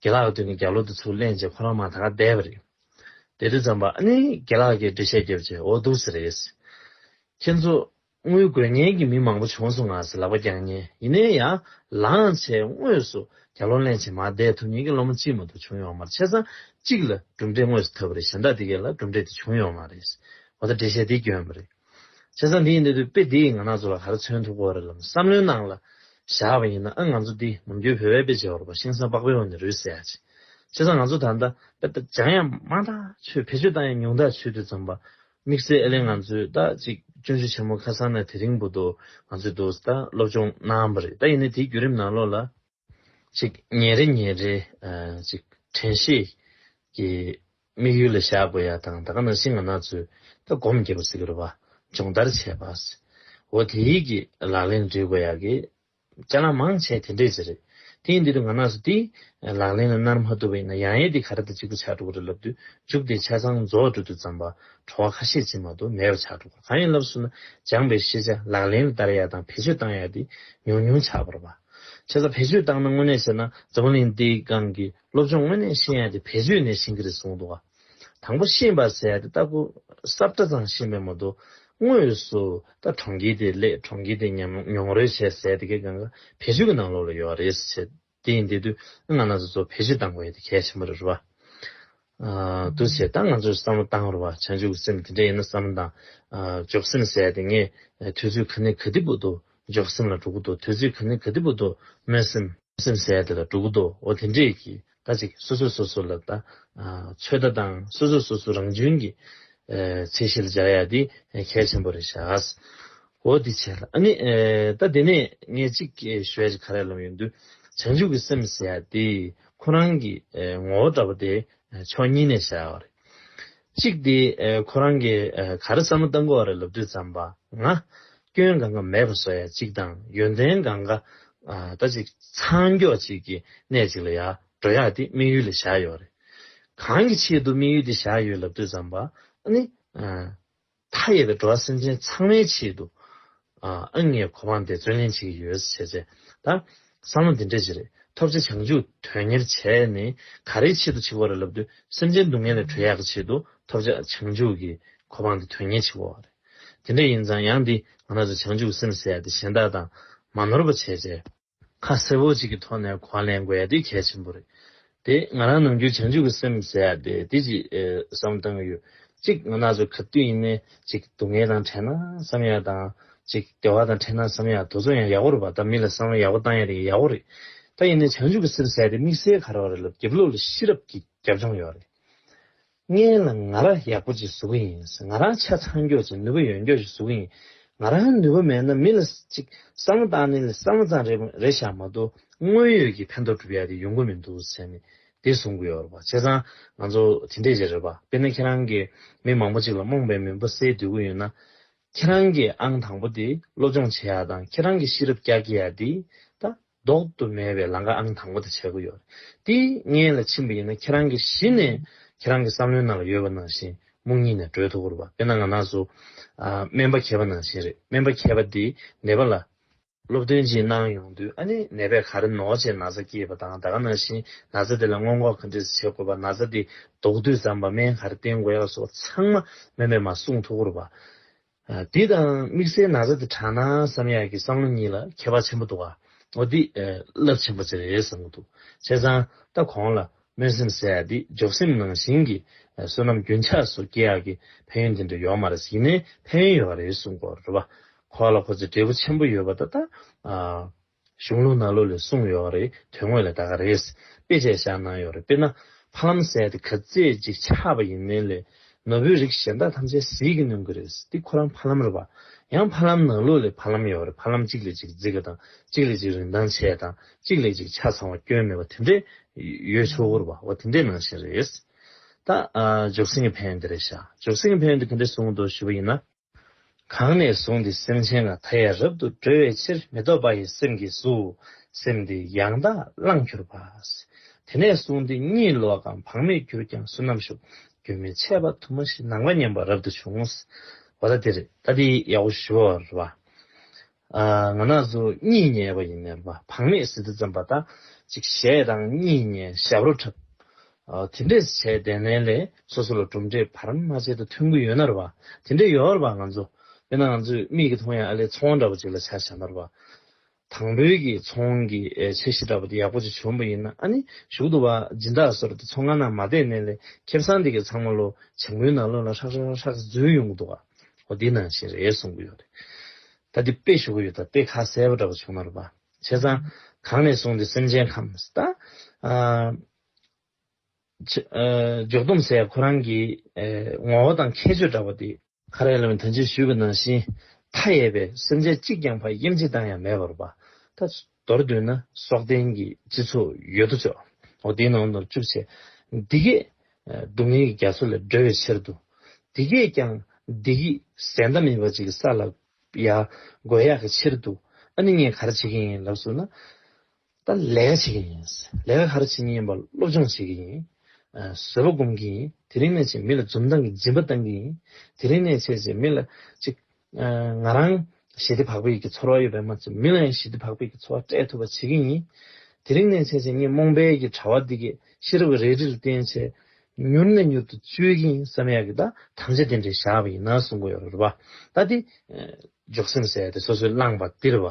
དགེ་ལགས་ཀྱི་མདུན་ནས་རྒྱ་ལོ་དེ་ཚུར་གླན་རྗེས་ཁོ་རང་མང་ད་ག་བསྡད་པ་རེད། བསྡད་དུས་ཙམ་པོ་ཨ་ནི་དགེ་ལགས་ཀྱིས་འགྲེལ་བཤད་བརྒྱབ་རྗེས་འོ་འདུག་ཟེར་རེད། ཁྱེད་ཚོ་དངུལ་དགོས་ངེས་ཀྱི་མི་མང་པོ་བྱོངས་སུ་ངང་སེ་ལག་པ་བརྐྱང་ཉེན་ཡིན་ནའི་ཡ། ལངས་ཆའི་དངོས་སུ་གྱ་ལོ་གླེང་བྱེད་མ་བསྡད་ཐུབ་ཉེན་གྱི་སློབ་མ་གཅིག་མ་གཏོགས་བྱུང་ཡོང་མར་ཆ་ཚང་གཅིག་ལ་གྲུབ་འབྲས་དངོས་སུ་ཐོབ་པ་རེད་གཞན་དག་དེ་གས་ལ་གྲུབ་འབྲས་དེ་བྱུང་ཡོང་མ་རེད། འོ་ད་འགྲེལ་བཤད་འདི་སྐྱོན་པ་རེད། ཆ་ཚང་འདི་ཡིན་དུས་དཔེ་འདི་ཡིས་ང་ནག་ཚོ་ལ་ག་རེ་མཚོན་ཐུབ་གོ་རེ་ལམ་བསམ་བློའི་ནང་ལ་བཞག་པ་ཡིན་ན་ཨང་ང་ཚོ་འདི་ནམ་རྒྱུན་བོད་བའི་དཔེ་བྱེད་བར་པ་ཤིང་སང་པགས་པའི་འོག་ནས་རུས་བསལ་ཡག་བྱེད། ཆ་ཚང་ང་ཚོ་ད་ལྟ་དཔེ་ད་སྦྱང་ཡག་མང་ཐག་ཆོད་བེད་སྤྱོད་བཏང་ཡག་ཉུང་ཐག་ཆོད་དུས་ཙམ་པ་དམིགས་བསལ་ཨེ་ལེ་ང་ཚོས་ད་ཅིག་སྐྱོན་བརྗོད་ཆེན་མོ་ཁ་སང་ནས་དེ་རིང་པོ་དུ་ང་ཚོས་དུ་ད་སློབ་སྦྱོང་གནང་པ་རེད་ད་ཡིན་ནའི་དེའི་བརྒྱུད་རིམ་ནང་ལོགས་ལ་ཅིག་ཉིན་རེ་ཉིན་རེ་ཅིག་དྲན་ཤེས་ཀྱི་དམིགས་ཡུལ་ལ་བཞག་དགོས་ཡ་དང་ད་ག་ནང་བཞིན་ང་ནག་ཚོས་ད་སྒོམ་རྒྱབ་པ་ཟིག་རུ་བ་སྦྱོང་བརྡར་བྱས་པ་ཟིག་འོ་དེའི་གི་ལག་ལེན་འབྲི་དགོས་ཡ་གི་ལྕགས་ལམ་མང་ཆེ་དེ་འདྲས་ཟེར། དེའི་འདི་དུ་ང་ནགས་སུ་དེ། ལག་ལེན་ལ་ནར་མ་བཏུབ་པ་ཡིན་ན་ཡང་ཡས་དེ་ག་རེ་དང་གཅིག་པུ་ཕྱག་དྲུག་རེ་ལབ་དུས་འཇུག་དེ་ཆ་ཚང་རྫོགས་སྤྲོད་དུ་བརྩམས་པ་བྲོ་བ་ཁ་ཤས་ཅན་མ་གཏོགས་མེད་པ་ཕྱག་དྲུག་གང་ཡང་ལབ་ཟུར་ན་སྦྱངས་པའི་ཤེས་བྱ་ལག་ལེན་ལ་བསྟར་ཡ་དང་བེད་སྤྱོད་བཏང་ཡ་དེ་ཉུང་ཉུང་ཆགས་པར་བ། ཆ་ཚང་བེད་སྤྱོད་བཏང་ན་དངོས་གནས་བཤད་ན་འཛམ་བུ་གླིང་འདིའི་སྒང་གི་སློབ་སྦྱོང་དངོས་གནས་ཤེས་ཡ་དེ་བེད་སྤྱོད་ནས་ཤེས་ཀྱི་རེད་གསུངས་འདུག་ག། དང་པོ་ཤིང་བ་ཟས་དེ་ལྟ་བུ། སྲབ་སྒྲ་ཚང་ཤིང་བའི་མོ་དོ། དངོས་སུ་ད་གྲོང་ཁྱེར་དེ་ལས་གྲོང་ཁྱེར་དེ་མྱོང་རོལ་བྱས་ཟས་དེ་གའི་གངྒཱ་བལ་ཆུ་གི་ནང་ལོགས་ལ་ཡོད་རེད་ཟེར་བྱས། དེ་ཡིན་དེ་དུས་ང་ང་ཚོ་ཚོ་བེད་སྤྱོད་བཏང་དགོས་ཡོད་དེ་གལ་ཆེན་པོ་རེད་རེད་བ། འདུག་བྱས་ད་ང་ཚོས་བསམ་བློ་བཏང་རོགས་བ་བྱང་ཆུབ་ཀྱི་སེམས་དེ་འདྲ་ཡིན་ན་བསམ་བློ་བཏང། འཇོག་སེམས་ཟས་དེ་ངས་དུས་ཚོད་ག་ནས་ག་དེ་བུད་དོ་འཇོག་སེམས་ལ་འགྲོ་གི་འདུག་དུས་ཚོད་ག་ནས་ག་དེ་བུད་དོ་སྨོན་སེམས། སེམས་ཟས་དེ་ལ་འགྲོ་གི་འདུག་འོ་དེ་འདྲས་ཀྱིས་ད་ཅིག་སོ་སོས་སོ་སོ་ལ་ལྟ། ཚོད་ལྟ་དང་སོ་སོས་སོ་སོ་རང་གཅུན་གྱི་ཚད་གཞིར་སྦྱར་ཡ་འདི་གལ་ཆེན་པོ་རེད་ཤག། འོ་འདི་བྱས་ལ་ནི་ད་དེ་ནས་ངས་ཅིག་ཞུ་ཡ་ཅིག་ག་རེ་ལབ་ཡོང་དུས་བྱང་ཆུབ་ཀྱི་སེམས་ཟེར་ཡ་དེ་ཁོ་རང་གི་ངོ་བོ་འདྲ་པོ་དེ་ཕྱོགས་གཉིས་ནས་བྱ་ཡ་བ་རེད། གཅིག་དེ་ཁོ་རང་གིས་ག་རེ་བསམ་མོ་ལྟ་མགོ་བ་རེ་ལབ་དུས་ཙམ་པ་ང། སྐྱོན་གང་ག་མེད་པ་བཟོ་ཡ་གཅིག་དང་ཡོན་ཏན་གང་ག་ད་ཅིག་ཚང་མགྱོགས་གཅིག་གི་གནས་གཅིག་ལ་ཡ་འགྲོ་ཡག་དེ་དམིགས་ཡུལ་ལ་བཞག་ཡོག་རེད། གང་གི་ཆེད་དུ་དམིགས་ཡུལ་དེ་བཞག་ཡོད་ལབ་དུས་ཙམ་པ་ནི། མཐའ་ཡས་པའི་འགྲོ་བ་སེམས་ཅན་ཚང་མའི་ཆེད་དུ། ཨང་ངེས་གོ་འཕང་དེ་བརྩོན་ལེན་བྱེད་ཀྱི་ཡོད་བཟོ་བྱས་ཚེ། ད། བསམ་བློ་འདི་འདྲས་ཅི་རེད་ཐོབ་ཚེ་བྱང་ཆུབ་དོན་གཉེར་བྱས་ནས་ག་རེའི་ཆེད་དུ་འཆི་བར་ལབ་དུས་སེམས་ཅན་སྡུག་བསྔལ་ལས་གྲོལ་ཡག་གི་ཆེད་དུ་ཐོབ་བྱ་བྱང་ཆུབ་ཀྱི་གོ་འཕང་དེ་དོན་གཉེར་བྱེད་དགོས་བ་རེད། དེ་འདྲས་ཡིན་ཙང་ཡང་འདིས་ང་རང་ཚོའི་བྱང་ཆུབ་ཀྱི་སེམས་ཟད་དེ་གཞན་དག་དང་མ་ནོར་བ་བྱས་ཚེ། ཁ་གསལ་བོ་གཅིག་གི་ཐོག་ནས་གོ་ལེན་དགོས་དེ་གལ་ཆེན་པོ་རེད། དེ་ང་རང་ནམ་རྒྱུན་བྱང་ཆུབ་ཀྱི་སེམས་ཟེར་ཡ་དེ་དེ་གཅིག་བསམ་བཏང་གི་ཡོད། གཅིག་ང་ནག་ཆུ་ཁ་བཏུད་ཡིན་ནའི་གཅིག་སྡུག་བསྔལ་དང་བྲལ་ན་བསམ་ཡ་དང། གཅིག་བདེ་བ་དང་བྲལ་ན་བསམ་ཡ་དུ་ཚོད་ཡང་ཡག་པོ་རེད་བ་ད་མི་ལ་བསམ་བློ་ཡག་པོ་བཏང་ཡ་དེ་ཡག་པོ་རེད། ད་ཡིན་ནའི་བྱང་ཆུབ་ཀྱི་སེམས་ཟེར་ཡ་དེ་དམིགས་བསལ་ག་རེ་བ་རེད་ལབ་རྒྱབ་ལོག་ལ་ཤེས་རབ་ཀྱི་རྒྱབ་ལྗོངས་ཡོད་རེད། ངའི་ལ་ང་ར་ཡག་པོ་ཅིག་བཟོ་གི་ཡིན་ང་རང་ཆ་ཚང་མགྱོགས་ཅིག་ནུས་པ་ཡོན་མགྱོགས་ཅིག་བཟོ་གི་ཡིན་ང་རང་ནུས་པ་མེད་ན་མི་ལ་ཅིག་བསམ་བློ་བཏང་ནི་ལ་བསམ་བློ་ཙང་རེ་རེ་བཞག་མ་གཏོགས་དངོས་ཡོད་ཀྱི་ཕན་ཐོག་སྒྲུབ་ཡག་དེ་ཡོང་གི་མི་འདུག་ཟེར་ནི་དེ་བཟུང་གི་ཡོད་རེད་པ་བྱས་ཙང་ང་ཚོ་དེ་འདྲས་ཅིག་རེད་པ་དཔེར་ན་ཁྱེད་རང་གི་མི་མང་པོ་ཅིག་ལ་རྨོངས་པའི་མུན་པ་སེལ་འདོད་གི་ཡོད་ན་ཁྱེད་རང་གི་ཨང་དང་པོ་དེ་སློབ་སྦྱོང་བྱེད་ཡག་དང་ཁྱེད་རང་གི་ཤེས་རབ་བསྐྱར་སྐྱེ་ཡག་དེ་ད་ལྡོག་ཏུ་མེད་པའི་ལང་ཀ་ཨང་དང་པོ་དེ་བྱེད་དགོས་ཡོད་རེད་དེ། ངས་ལ་ཕྱིན་པ་ཡིན་ན་ཁྱེད་རང་གི་གཞི་ནས་ཁྱེད་རང་གི་བསམ་བློའི་ནང་ལ་ཡོད་པ་ནང་བཞིན་སྨུག་ཉིད་ནས་བགྲོད་ཐུབ་དགོས་རེད་པ་དཔེར་ན་ང་ནགས་སུ་སྨན་པ་གྱེས་པ་ནང་བཞིན་རེད་སྨན་པ་གྱེས་པ་དེས་ནད་པ་ལ་སློབ་སྟོན་ཅིག་གནང་ཡོང་དུས་ཨ་ནི་ནད་པས་ག་རེ་ནོར་བྱས་ན་ཚ་སྐྱེས་པ་དང་ད་ག་ནང་བཞིན་ན་ཚ་དེ་ལ་སྔོན་འགོག་ག་འདྲས་བྱེད་དགོས་པ་ན་ཚ་དེ་ལྡོག་དུས་ཙམ་པ་སྨན་ག་རེ་བསྟེན་དགོས་ཡག་སོགས་ཚང་མ་སྨན་པས་མ་གསུངས་ཐུབ་དགོས་རེད་པ་དེ་དང་དམིགས་བསལ་ན་བཟའ་དེ་གྲགས་ན་བསམ་ཡག་གི་བསམ་བློ་གཉིས་ལ་ཁྱད་པར་ཆེན་པོ་འདུག་ཨ། འོ་འདི་རླབས་ཆེན་པོ་ཆེ་རེད་བསམ་གྱི་འདུག་བྱས་ཙང་ད་གོང་ལ་སྨོན་སེམས་བསལ་ཡག་འདི་འཇོག་སེམས་ནང་བཞིན་གྱི་བསོད་ནམས་རྒྱུན་ཆགས་སུ་སྐྱེ་ཡག་གི་ཕན་ཡོན་དེ་འདྲ་ཡོག་མ་རེད་ཡིན་ནའི་ཕན་ཡོན་ཡོད་རེད་གསུངས་སྐོར་རེད་བ། ཁོ་ལ་ཁོ་ཚོས་འབྲས་བུ་ཆེན་པོ་ཡོད་པ་ད་ད། གཞུང་ལུགས་ནང་ལུགས་ལས་གསུངས་ཡོད་རེད་དོན་དངོས་ལ་ད་ག་རེད། དཔེ་བྱས་བཞག་གནང་ཡོད་རེད་དཔེར་ན། ཕ་ལམ་ཟས་དེ་ག་ཚད་ཅིག་ཆགས་པ་ཡིན་མིན་ལས། ནོར་བུའི་རིགས་གཞན་དག་ཐམས་ཅད་ཟིལ་གྱིས་གནོན་གི་རེད་འདི་ཁོ་རང་ཕ་ལམ་རེད་པ། ཡང་ཕ་ལམ་ནང་ལུགས་ལས་ཕ་ལམ་ཡོད་རེད་ཕ་ལམ་གཅིག་ལས་གཅིག་བརྫི་གི་དང་གཅིག་ལས་གཅིག་རིན་ཐང་ཆེ་དང་གཅིག་ལས་གཅིག་ཆ་ཚང་བ་སྐྱོན་མེད་པ་དེ་འདྲས་ཡོད་ཆོག་གུ་རུ་པ་བ་དེ་འདྲས་ནང་བཞིན་རེད། ད། འཇོག་སེང་གེ་ཕན་དེ་རེད་ཤག་འཇོག་སེང་གེ་ཕན་དེ་ག་འདྲས་གསུངས་འདུག་ཞུ་བ་ཡིན་ན། གང་ནས་བཟུང་སྟེ་སེམས་ཅན་ལ་མཐའ་ཡས་རབ་ཏུ་སྒྲོལ་བའི་ཕྱིར་མི་ལྡོག་པ་ཡི་སེམས་ཀྱིས་སུ་སེམས་དེ་ཡང་དག་བླངས་གྱུར་པ། དེ་ནས་བཟུང་སྟེ་གཉིད་ལོག་གམ་བག་མེད་གྱུར་ཀྱང་བསོད་ནམས་ཞུགས། རྒྱུན་མི་འཆད་པ་དུ་མ་ཞིག་སྣང་བ་མཉམ་པ་རབ་ཏུ་བྱུང། བ་ད་དེ་རེད་ད་དེ་ཡའོ་ཞུ་བ་རེད་བ། ང་ནགས་སུ་གཉིད་ཉལ་བ་ཡིན། བག་མེད་བཟི་ལྟ་བརྩམས་པ་ལྟ། ཅིག་བཞད་དང་གཉིད་ཉལ་ཞབས་རོ་འཁྲབ། དེ་འདྲས་བྱས་བདེ་ནལ་ལས་སོ་སོ་ལ་གྲུབ་འབྲས་བར་མ་ཆད་དུ་ཐོན་གྱི་ཡོད་ནར་བ། དེ་འདྲས་ཡོད་ར་བ་ང་ཚོ། དཔེར་ན་ང་ཚོས་མིག་གིས་མཐོང་ཡང་ཨ་ལས་ཚོང་བ་འདྲ་བོ་ཅིག་ལ་ཆ་བཞག་ནར་བ། དང་བོད་ཀྱི་ཚོང་གི་ཆེ་བཞི་འདྲ་བོ་དེ་ཡག་པོ་ཅིག་བྱོན་པ་ཡིན་ན་ཨ་ནི་ཞུགས་འདུག་བ་སྦྱིན་བདག་སོར་དེ་ཚོང་ཁང་ནང་མ་བསྡད་ནལ་ལས་ཁེབས་སང་དེ་གི་ཚང་མ་ལོ་བྱང་བུའི་ནང་ལོ་ལ་ཧྲག་ཧྲག་ཧྲག་ཧྲག་འཛུལ་ཡོང་གི་འདུག་བ། ཨོ་འདི་ན་ཞེས་རེད་གསུང་གི་ཡོད་རེད། ད་འདི་དཔེ་ཞུ་གི་ཡོད་ད་དཔེ་ཁ་གསལ་པོ་འདྲ་པོ་བྱུང་ན་རུ་པ། བྱས་ཙང་གང་ནས་བཟུང་འདི་སེམས་ཅན་ཁམས་ད། འཇུག་སྡོམ་ཟེར་ཡ་ཁོ་རང་གི་ངོ་བོ་དང་ཁྱད་ཆོས་འདྲ་པོ་འདི། ཁ་རས་ལོན་ཐོན་ཅིག་ཞུས་གི་ནང་བཞིན་མཐའ་ཡས་པའི་སེམས་ཅན་གཅིག་ཀྱང་ཕ་ཡིམ་ཅིག་དང་ཡང་མེད་པ་རུ་པ། ད། མདོར་བསྡུས་ན་སྲོག་ལྡན་གྱི་སྤྱི་ཚོགས་ཡོད་དོ་ཅོག་འོ་དེའི་ནང་དུ་བཅུག་བྱས། འདི་གས་སྡུག་བསྔལ་གྱི་རྒྱ་མཚོ་ལས་སྒྲོལ་བའི་ཕྱིར་དུ། འདི་གས་ཀྱང་བདེ་སྐྱིད་ཟད་མཐའ་མེད་པ་ཅིག་ས་ལ་ཡར་འགོ་ཡག་གི་ཕྱིར་དུ་ཨ་ནི་ངས་ག་རེ་བྱེད་ཀྱིན་ཡིན་ལབ་སུ་ན། ད་ལས་ཀ་བྱེད་ཀྱིན་ཡིན། ལས་ཀ་ག་རེ་བྱེད་ཀྱིན་ཡིན་པ་སློབ་སྦྱོང་བྱེད་ཀྱིན་ཡིན། བཟོད་པ་སྒོམ་གྱིན་ཡིན་དེ་རིང་ནས་ཅིག་མི་ལ་འཛུམ་མདངས་ཀྱི་སྦྱིན་པ་བཏང་གིན་ཡིན། དེ་རིང་ནས་ཆད་ཅིག་མི་ལ་ཅིག་ང་རང་ཞི་བདེ་བག་ཕེབས་ཀྱི་ཚོར་བ་ཡོད་པའི་མ་ཚད་མི་ལ་ཡང་ཞི་བདེ་བག་ཕེབས་ཀྱི་ཚོར་བ་སྤྲད་ཐུབ་པ་བྱེད་ཀྱི་ཡིན། དེ་རིང་ནས་བྱས་ཚེ་ངས་རྨོངས་དཔལ་གྱི་དྲ་བ་འདི་གའི་ཤེས་རབ་ཀྱི་རལ་གྲིལ་བསྟན་ཆེད་མྱུར་ནས་མྱུར་དུ་བཅོལ་གྱི་ཡིན་བསམ་ཡག་གི་ད་དམ་བཅའ་དེ་འདྲའི་བཞག་པ་ཡིན་ན་གསུང་གི་ཡོད་རེད་བ་ད་དེ། འཇོག་སེམས་ཟད་དེ་སོ་སོའི་བླངས་པ་འདིར་བ་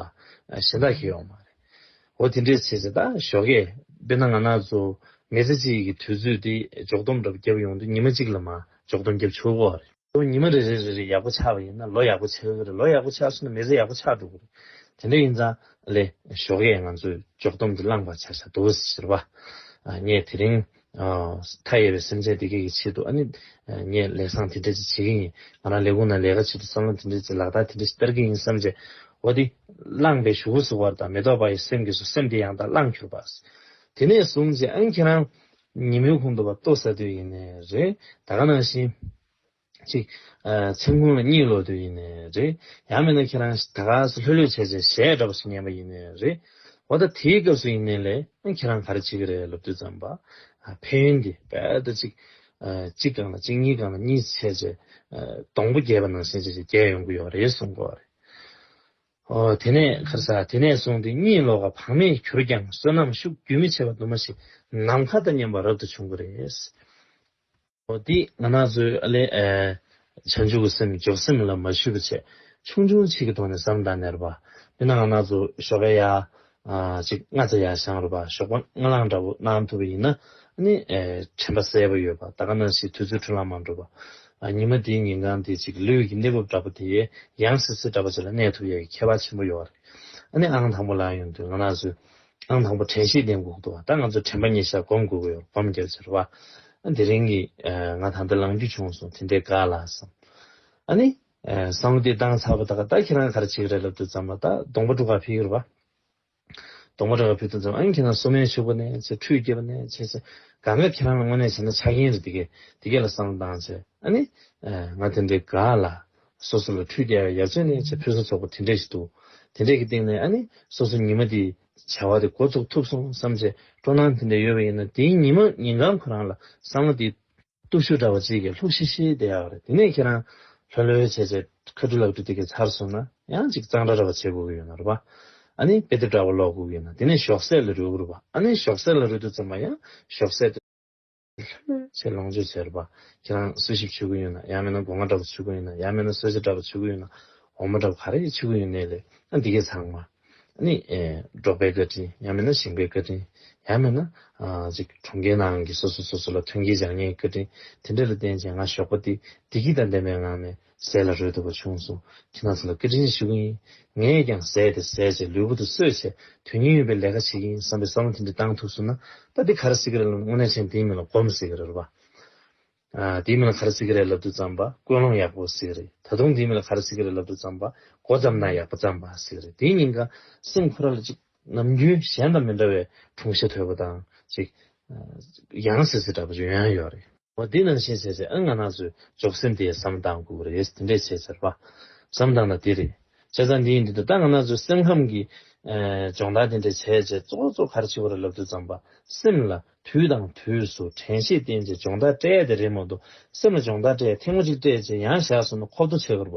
གཞན་དག་ཁེལ་ཡོང་མ་རེད། འོ་དེ་འདྲས་བྱས་ཚེ་ད་ཞོག་གས་དཔེར་ན་ང་ན་ཚོ་མི་ཚེ་གཅིག་གི་དུས་ཚོད་དེ་འཇོག་སྡོམ་འདྲ་བརྒྱབ་ཡོང་དུས་ཉི་མ་གཅིག་ལ་མ་འཇོག་སྡོམ་བརྒྱབ་ཆོག་གི་རེད། ཁོ་ཉི་མ་རེ་རེ་རེ་རེ་ཡག་པོ་ཆགས་པ་ཡིན་ན་ལོ་ཡག་པོ་ཆགས་ཀྱི་རེད་ལོ་ཡག་པོ་ཆགས་སོང་ན་མི་ཚེ་ཡག་པོ་ཆགས་འགྲོ་གི་རེད་དེ་འདྲ་ཡིན་ཙང་ལེ་ཞོགས་ཀྱེ་ང་ཚོས་འཇོག་སྡོམ་གྱི་བླངས་པ་བྱ་བྱ་འདུག་ཟེར་བ། ངས་དེ་རིང་མཐའ་ཡས་པའི་སེམས་ཅན་སྡེ་བརྒྱད་ཀྱི་ཆེད་དུ་ཨ་ནི་ངས་ལས་བཟང་དེ་འདྲ་ཅིག་བྱེད་ཀྱི་ཡིན་ང་རང་ལས་ཁུངས་ནང་ལས་ཀ་བྱེད་དུ་བསམ་བློ་དེ་འདྲ་ཅིག་ལག་རྟགས་དེ་འདྲ་ཞིག་བསྟར་གྱི་ཡིན་བསམ་རྗེས་འོ་དེ་བླངས་པས་ཞུ་གསུང་བར་དང་མེ་ཏོག་པ་ཡི་སེམས་ཀྱི་སུ་སེམས་དེ་ཡང་དག་བླངས་གྱུར་པ། དེ་ནས་བཟུང་རྗེས་ཨང་ཁྱེད་རང་ཉིན་མོའི་ཁོང་དུ་བ་ལྟོ་ཟ་དུས་ཡིན་ནི་རེད། ད་ག་ནང་བཞིན། ཅིག། མཚན་གུང་ལ་གཉིད་ལོག་དུས་ཡིན་ནི་རེད། ཡང་མིན་ན་ཁྱེད་རང་ད་ག་སུ་ལྷོད་ལྷོད་བྱས་བྱས་གཞས་འདྲ་པོ་ཞིག་ཉན་པ་ཡིན་ནི་རེད། འོ་ད་དེའི་སྐབས་སུ་ཡིན་ནི་ལེ། ཁྱེད་རང་ག་རེ་བྱེད་ཀྱི་རེད་ལབ་དུས་ཙམ་པ། ཕན་ཡོན་འདི་རྦད་དེ་ཅིག། གཅིག་གང་ལ་གཅིག་གཉིས་གང་ལ་གཉིས་བྱས་བྱས། སྡོང་པོ་རྒྱས་པ་ནང་བཞིན་བྱས་བྱས་རྒྱས་ཡོང་གི་ཡོད་རེད་གསུངས་གོ། དེ་ནས་ཁར་ས་དེ་ནས་བཟུང་སྟེ་གཉིད་ལོག་ག་བག་མེད་གྱུར་ཀྱང་བསོད་ནམས་ཤུགས་རྒྱུན་མི་ཆད་པ་དུ་མ་ཞིག་ནམ་མཁའ་ལྟར་མཉམ་པ་རབ་ཏུ་བྱུང་བ་རེད། འདི་ང་ནག་ཚོའི་ཨ་ལས། བྱང་ཆུབ་ཀྱི་སེམས་འཇོག་སེམས་ལ་མ་ཞུ་བ་བྱས། ཆུང་ཆུང་ཆིག་གི་ཐོག་ནས་བསམ་དང་ནེར་པ། མི་ནག་ང་ནག་ཚོ་ཞོགས་ཀ་ཡ། གཅིག་སྔ་རྗེས་ཡར་བཞེངས་རོགས་པ་ཞོགས་པ་སྔ་ལངས་འདྲ་བོ་གནང་ཐུབ་པ་ཡིན་ན་ནི་དྲན་པ་གསལ་པོ་ཡོད་པ་ད་ག་ནང་བཞིན་དུས་ཚོད་འཁྲུལ་ལམ་མ་འགྲོ་བ། ཉིན་མ་དེའི་ཉིན་གང་དེ་གཅིག་ལུས་ཀྱི་གནས་བབ་འདྲ་པོ་དེ་ཡང་སིད་སིད་འདྲ་པོ་བྱེད་ལ་གནས་ཐུབ་ཡ་ཡི་ཁྱད་པར་ཆེན་པོ་ཡོད་བ་རེད་ཨ་ནི་ཨང་དང་པོ་ལངས་ཡོང་དུས་ང་ནག་ཚོས་ཨང་དང་པོ་དྲན་ཤེས་ལྡན་དགོས་ཀྱི་འདུག་བ་ད་ང་ཚོས་དྲན་པ་ཉེ་ཤར་སྒོམ་དགོས་ཀྱི་ཡོད་བ་སྒོམ་རྒྱབ་ཅེར་བ་ཨ་དེ་རིང་གི་ང་ད་ལྟ་ལངས་རྒྱུ་བྱུང་སོང་དེ་འདྲའི་དགའ་ལགས་སམ་ཨ་ནི། གསང་བདེ་སྟངས་ཚར་བ་དག་ད་ཁྱེད་རང་གར་བྱེད་ཀྱི་རེད་ལབ་དུས་ཙམ་ལ་ད་གདོང་པ་དྲུག་ག་ཕེབས་ཡོད་རེད་བ། གདོང་པ་དྲུག་ག་ཕེབས་དུས་ཙམ་ཨང་ཁྱེད་རང་སོ་མའི་ཕྱུག་པོ་ནས་ཚེ་ཁྲུས་སྐྱེས་པ་ནས་ཆེ་ཚེ་ག་འགའ་ཁྱེད་རང་ལ་དངོས་གནས་བྱས་ན་ཆགས་ཀྱིན་རེད་དེ་གས་དེ་གས་ལ་གསང་སྟངས་ཚེ་ཨ་ནི། ང་དེ་འདྲའི་ག་ལ། སོ་སོ་ལ་ཁྲུས་སྐྱེས་ཡ་མཚོན་ནས་ཚེ་ཕུན་སུམ་ཚོགས་པོ་དེ་འདྲས་ཞིག་འདུག་དེ་འདྲས་ཀྱི་སྟེང་ནས་ཨ་ནི་སོ་སོ་ཉི་མ་དེའི་བྱ་བ་དེ་འགོ་ཚུགས་ཐུབ་སོང་བསམ་ཚེ་སྤྲོ་སྣང་དེ་འདྲས་ཡོད་པ་ཡིན་ན་དེའི་ཉིན་མོ་ཉིན་གང་ཁོ་རང་ལ་གསང་བ་དེའི་གཏུག་ཤུ་འདྲ་བ་གཅིག་གིས་ལྷུག་ཤི་ཤི་བསྡད་ཡག་རེད་དེ་ནས་ཁྱེད་རང་ལྷོད་ལྷོད་བྱས་བྱས་ཁ་སྤྲུ་ལག་སྤྲུ་དེ་གའི་ཚར་སོང་ན་ཡང་གཅིག་གཙང་སྦྲ་འདྲ་བ་བྱེད་དགོས་ཀྱི་ཡོད་ན་རུ་བ་ཨ་ནི་དཔེ་དེབ་འདྲ་བ་ཀློག་དགོས་ཀྱི་ཡོད་ན་དེ་ནས་ཞོགས་ཟས་ལ་རོལ་གི་རུ་བ་ཨ་ནི་ཞོགས་ཟས་ལ་རོལ་དུས་ཙམ་པ་ཡང་ཞོགས་ཟས་དེ་ལྷོད་ལྷོད་བྱས་ལོངས་སྤྱོད་བྱས་རུ་བ་ཁྱེད་རང་སུ་ཞིག་ཆུ་གུ་ཡོད་ན་ཡང་མེད་ན་སྒོ་ང་འདྲ་བ་ཆུ་གུ་ཡོད་ན་ཡང་མེད་ན་སོལ་ཆ་འདྲ་བ་ཆུ་གུ་ཡོད་ན་འོ་མ་འདྲ་བ་ག་རེ་ཡི་ཆུ་གུ་ཡོད་ནས་ལས་ཨ་འདི་གའི་ཚང་མ། ནི། འབྲོག་པའི་བཀའ་དྲིན་ཡང་མིན་ན་ཞིང་པའི་བཀའ་དྲིན་ཡང་མིན་ན། གྲོང་ཁྱེར་ནང་གི་སོ་སོ་སོ་སོ་ལ་ཐོན་སྐྱེད་བྱ་ངན་གྱི་བཀའ་དྲིན་དེ་འདྲ་ལ་བརྟེན་ཅིང་ང་ཞོགས་པ་དེ་བདེ་སྐྱིད་དང་ལྡན་པའི་ངང་ནས་ཟས་ལ་རོལ་ཐུབ་པ་བྱུང་སོང་ཁྱེད་རྣམས་ཚོ་ལ་བཀའ་དྲིན་ཞུ་གི་ཡིན། ངས་ཀྱང་ཟས་དེ་ཟས་བྱས་ལུས་པོ་དེ་གསོས་བྱས་དོན་སྙིང་ཡོད་པའི་ལས་ཀ་བྱེད་ཀྱི་ཡིན་བསམ་པའི་བསམ་བློ་དེ་འདྲ་བཏང་ཐུག་སོང་ན་ད་འདི་ག་རེ་སྲིད་ཀྱི་རེད་ལབ་ན་དངོས་གནས་མཆན་འདིའི་མིང་ལ་སྒོམ་ཟེར་གྱི་རེད་རོ་བ། དེའི་མིང་ལ་གྷར་སི་ཀི་རའི་ལབ་ཏུ་བརྩམས་པ་ཀུན་སློང་ཡག་པོ་ཟིག་རེད་ད་དུང་དེའི་མིང་ལ་གྷར་སི་ཀི་རའི་ལབ་ཏུ་བརྩམས་པ་མགོ་བརྩམས་ན་ཡག་པོ་བརྩམས་པ་ཟིག་རེད་དེའི་ཉིན་ག་སེམས་ཁུ་ར་ལ་ཅིག་ནམ་རྒྱུན་གཞན་དང་མི་འདྲ་བའི་དྲུང་ཤ་དོད་པོ་དང་ཅིག་ཡང་ཟེར་ཟེར་འདྲ་པོ་ཡོད་ཡང་ཡོད་རེད། བ་དེ་ནང་བཞིན་ཟེར་ཟེར་ཨང་ང་ནག་ཚོས་འཇོག་སེམས་དེ་ཟམ་གདང་སྒུག་རེད་དེ་འདྲས་བྱས་ཟེར་བ་ཟམ་གདང་ན་དེ་རེད་བྱས་ཙང་འདི་ཡིན་འདི་འདུག་ད་ང་ནག་ཚོས་སེམས་ཁམས་ཀྱི་སྦྱོང་བརྡར་དེ་འདྲས་བྱས་རྗེས་གཙོ་གཙོ་གྷར་སི་ཀི་རའི་ལབ་ཏུ་བརྩམས་པ་སེམས་ལ་དུས་དང་དུས་སུ་དྲན་ཤེས་བརྟེན་ཅིང་སྦྱོང་བརྡར་སྤྲད་དེ་རེས་མོ་དུ་སེམས་ལ་སྦྱོང་བརྡར་སྤྲད་ཐེངས་མོ་གཅིག་སྤྲད་རྗེས་ཡང་བཞག་སོང་ན་ཁོབ་ཏུ་ཆེ་གར་བ་